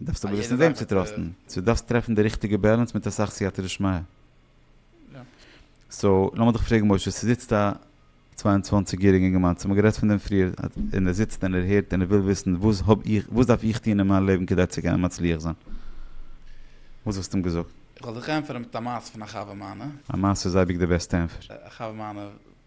Speaker 1: דארפסט אבער וויסן וועם צו טראסטן, סאו דארפסט טרעפן די ריכטיגע בעלענס מיט אסאך סייעתא דשמיא. סאו לאמיר דיך פרעגן משה, ס'זיצט א צוויי און צוואַנציק יעריגע אינגערמאן, ס'האמיר גערעדט פון דעם פריער, און ער זיצט און ער הערט און ער וויל וויסן וואס האב איך, וואס דארף איך טון אין מיין לעבן כדי צו קענען מצליח זיין? וואס וואלסטו אים געזאגט? איך וועל זיך ענטפערן מיט א מעשה פון א חבר מיינע. א מעשה איז אייביג די בעסטע ענפער. א חבר מיינע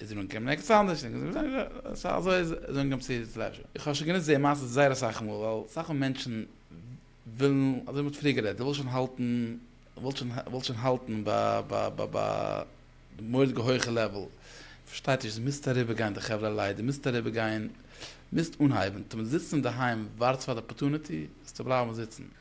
Speaker 1: איז זינגען קען מען עקץ אנדערש זינגען סא אזוי איז זינגען צו פלעזשער איך האב שוין גענוצט די מעשה זייער אסאך מאל ווייל אסאך מאל מענטשן ווילן אזוי ווי מען האט פריער גערעדט די ווילסט שוין האלטן ווילסט שוין ווילסט שוין האלטן ביי מורא'דיגע הויכע לעוועל פארשטייט נישט די מוזט אריבער גיין די חברה לייט די מוזט אריבער גיין מוזט אנהייבן טון זיצן אינדערהיים ווארטסט פאר די אפארטוניטי זאלסטו בלייבן זיצן.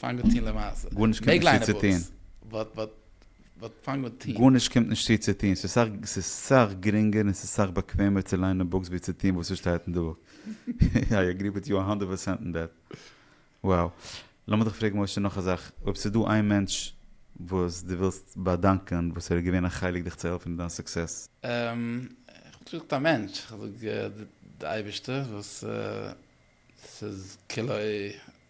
Speaker 1: פאנג אן טון למעשה. גארנישט קומט נישט צו צו טון. באט פאנג אן טון. גארנישט קומט נישט צו צו טון. ס'איז סאך גרינגער און ס'איז סאך באקוועמער צו ליינען בוקס ווי צו טון וואס ס'שטייט אין די בוק. איי אגרי וויט יו א האנדערט פערסענט אין דעט. וואו. לאמיר דיך פרעגן משה נאך א זאך. אויב ס'איז דא איין מענטש וואס דו ווילסט באדאנקען וואס ער איז געווען א חלק דיך צו העלפן אין דיין סוקסעס. אממ. כ'וואלט נישט געזאגט א מענטש. כ'זאג די אייבערשטער וואס ס'איז כלא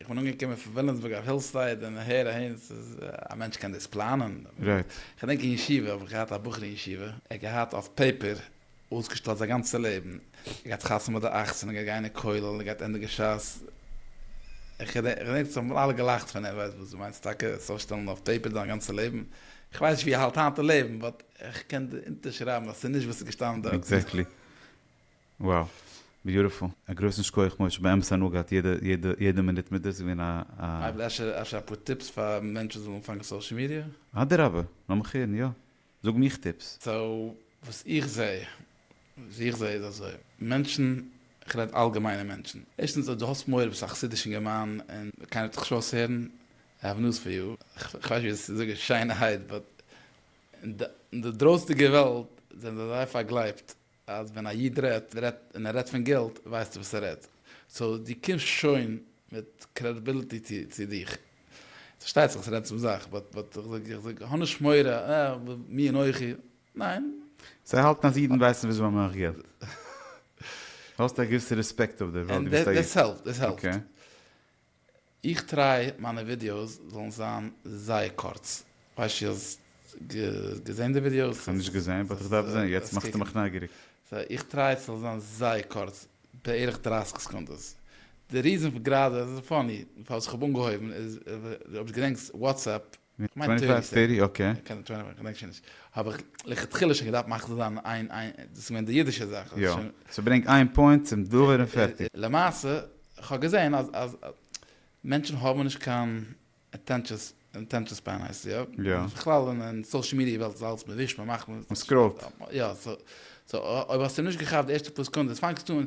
Speaker 1: איך בין אנגעקומען פון וויליאמסבורג אויף הילסייד און הער אהן ס'איז א מענטש קען דאס פלאנען. רייט. כ'דענק אין ישיבה האב איך געהאט א בחור אין ישיבה, ער האט געהאט אויף פעיפער אויסגעשטעלט זיין גאנצע לעבן, ער האט געהאט חתונה ביי די אַכצן, ער גייט גיין אין כולל, ער גייט ענדיגן ש ס, כ'דענק ס'האבן אלע געלאכט פון אים, וואס דו מיינסט טאקע עס אויסשטעלן אויף פעיפער דיין גאנצע לעבן? כ'ווייס נישט ווי ער האלט היינט אין לעבן, באט כ'קען אונטערשרייבן אז ס'איז נישט וואס ס'איז געשטאנען דארטן. עקזעקטלי. Wow! Beautiful! א גרויסן שכוח משה, באמת הנאה געהאט יעדע יעדע יעדע מינוט מיט דיר, ס'איז געווען א. אפשר אפשר אפאר טיפס פאר מענטשן זאלן אנפאנגען סאושעל מידיע? אדרבה, לאמיך הערן, יא. זאג מיך טיפס. סאו וואס איך זע, וואס איך זע איז אזוי, מענטשן, איך רעד אלגעמיינע מענטשן, ערשטנס אויב דו האסט מורא, ביסט א חסידיש אינגערמאן און קיינער וועט דיך נישט אויסהערן, I have news for you, איך ווייס נישט ווי דאס צו זאגן שיינערהייט, באט אין די דרויסנדיגע וועלט זענען זיי אזוי פארגלייבט, אז ווען א איד רעדט רעדט און ער רעדט פון געלט ווייסטו וואס ער רעדט סאו דו קומסט שוין מיט קרעדיביליטי צו דיך ס'פארשטייט זיך ס'רעדט צום זאך באט באט איך זאג האב נישט מורא אה מי אנכי ניין. זיי האלטן אז אידן ווייסן וויאזוי מען מאכט געלט? האסט א געוויסע רעספעקט אויף די וועלט וויבאלד דו ביסט א איד? און דעס העלפט דעס העלפט. איך טריי מיינע ווידיאוס זאלן זיין זייער קורץ, ווייסט צו האסט געזען די ווידיאוס? כ'האב נישט געזען באט איך דארף זען, יעצט מאכסטו מיך נייגעריג. סא איך טריי ס'זאל זיין זייער קורץ, בערך דרײַסיק סעקונדעס. די ריזען פאר גראדע, ס'איז פאני, פארוואס כ'האב אנגעהויבן איז, אויב דו געדענקסט וואטסעפפ, כ'מיין טעיטי, אקעי. קען טויען מיין קאנעקשאנס. האב איך לכתחילה שוין געדארפט מאכן צו זיין איין איין, דאס איז געווען די אידישע זאך. יא. סאו ברענג איין פוינט צום דבר און פערטיג. למעשה, כ'האב געזען אז אז מענטשן האבן נישט קיין אטענשאן ספען הייסט עס, יא? יא. בכלל אין סאושעל מידיע וועלט איז אלעס מ'ווישט מ'מאכט מ. מ'סקראולט. יא, סאו אויב האסטו נישט געכאפט די ערשטע פאר סעקונדעס פאנגסטו אן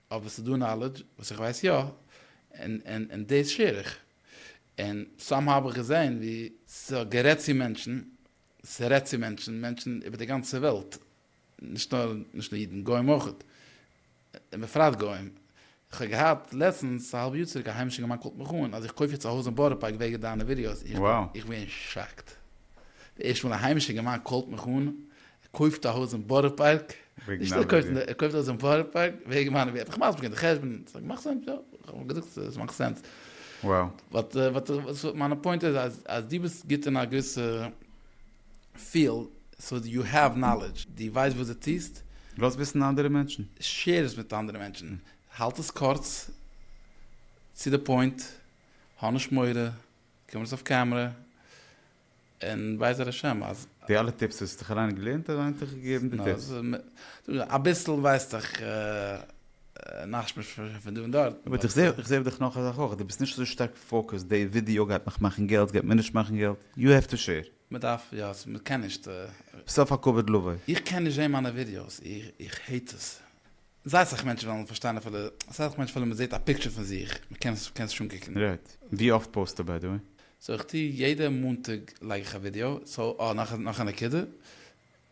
Speaker 1: אבער ס'דא נאלעדזש וואס איך ווייס יא, און און דאס שעיר איך. און סאם האו האב איך געזען ווי. ס'האט גערעדט צו מענטשן, ס'רעדט צו מענטשן, מענטשן איבער די גאנצע וועלט, נישט נאר נישט נאר אידן, גוים אויך, און בפרט גוים. כ'האב געהאט לעצטנס א האלב יאר צוריק א היימישער געמאן קאלט מיך אן אז איך קויף יעצט א הויז אין בארא פארק וועגן דיינע ווידיאוס, איך בין שאקט. די ערשטע מאל א היימישער געמאן קאלט מיך אן, ער קויפט א הויז אין בארא פארק, נישט ער קויפט, ער קויפט א הויז אין בארא פארק וועגן מיינע ווערטער, איך מאך די חשבון, ס'איז מאכט סענס, יא, איך האב געזאגט עס מאכט סענס, באט וואס מיינע פוינט איז אז אז דו ביסט גוט אין א געוויסע פיעלד, סאו יו העוו נאלעדזש, דו ווייסט וואס דו טוסט, לאז וויסן אנדערע מענטשן, שער עס מיט אנדערע מענטשן, האלט עס קורץ, צו די פוינט, האנישט מורא, קום נישט אויף קעמרע. און בעזר השם אז. די אלע טיפס וואס האסט דיך אריין געלערנט אריין האט דיך געגעבן די טיפס. אביסל ווייס איך נאכשמועס פון דא און דארט. אבער איך זעה איך זעה דיך נאך א זאך אויך די ביסט נישט אזוי שטארק פאוקעסט די ווידיאו גייט מיך מאכן געלט גייט מיר נישט מאכן געלט יו העוו טו שעיר. מען דארף יא מען קען נישט. ביסט אויף א כבוד לבו. איך קען נישט זעהן מיינע ווידיאוס איך העיט עס. זייט זיך מענטשן וועלן פארשטיין אפילו זייט זיך מענטשן אפילו מען זעט א פיקטשער פון זיך מען קען עס קען עס נישט אנקוקן. רעד. ווי אפט פאוסטו ביי די וועי? סאו איך טו יעדע מאנטאג לייג איך א ווידיאו, סאו אה נאך נאך א נקודה,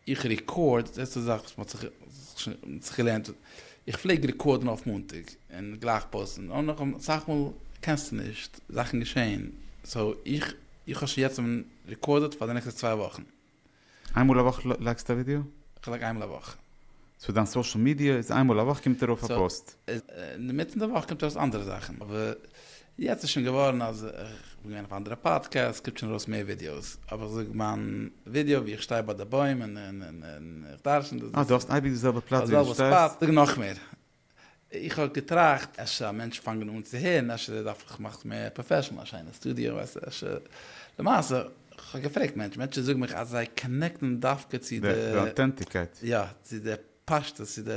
Speaker 1: איך רעקארד, דאס איז א זאך וואס מ'האט זיך מ'האט זיך געלערנט, איך פלעג רעקארדן אויף מאנטאג און גלייך פאוסטן, און נאך אסאך מאל קענסטו נישט, זאכן געשען, סאו איך איך האב שוין יעצט רעקארדעד פאר די נעקסטע צוויי וואכן. איין מאל א וואך לייקסטו א ווידעא? כ'לייק איינמאל א וואך. סאו דיין סאשעל מידיע איז איין מאל א וואך קומט ארויף א פאוסט? אינמיטן די וואך קומט ארויס אנדערע זאכן, אבער יעצט איז שוין געווארן אז כ'בין געווען אויף אנדערע פאדקעסט קומט שוין ארויס מער ווידיאוס, אבער כ'זאג מיין ווידעא ווי איך שטיי ביי די בוים און איך דרשן. אה דו האסט אייביג די זעלבע פלאץ ווי דו שטייסט? זאג נאכמער, איך האב געטראכט אפשר א מענטש פאנגן אן צו הערן אפשר ער דארף זיך מאכן מער פראפעשענעל א שיינע סטודיאו ווייסטו אפשר למעשה איך האב געפרעגט מענטשן מענטשן זאגן מיך אז זיי קאנעקטן דווקא צו די די אטענטיקייט יא צו די פשטות צו די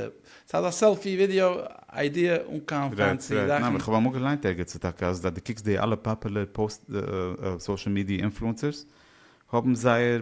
Speaker 1: סאיז אזא סעלפי ווידיאו איידיע אן קיין רייט פענסי רייט זאכן. ניין איך האב אמאל געליינט ערגעץ טאקע אז אז די קוקסט די אלע פאפעלער פאוסט סאשעל מידיע אינפלוענסערס האבן זייער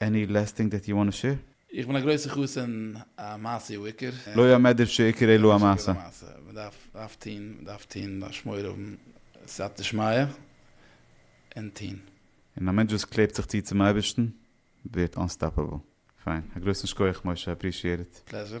Speaker 1: עני לעסט טינג דעט יו וואנט טו שעיר? איך בין א גרויסע חסיד המעשה הוא עיקר. לא יאמר דער שעיקרא לא המעשה. מען דארף דארף טוהן מען דארף טוהן מען דארף שמור האבן סייעתא דשמיא און טוהן. און א מענטש וואס קלעבט זיך צו צום אייבערשטן ווערט אנסטאפעבל. פיין. א גרויסן שקויעך משה, אפרישיעט איט. פלעזשער.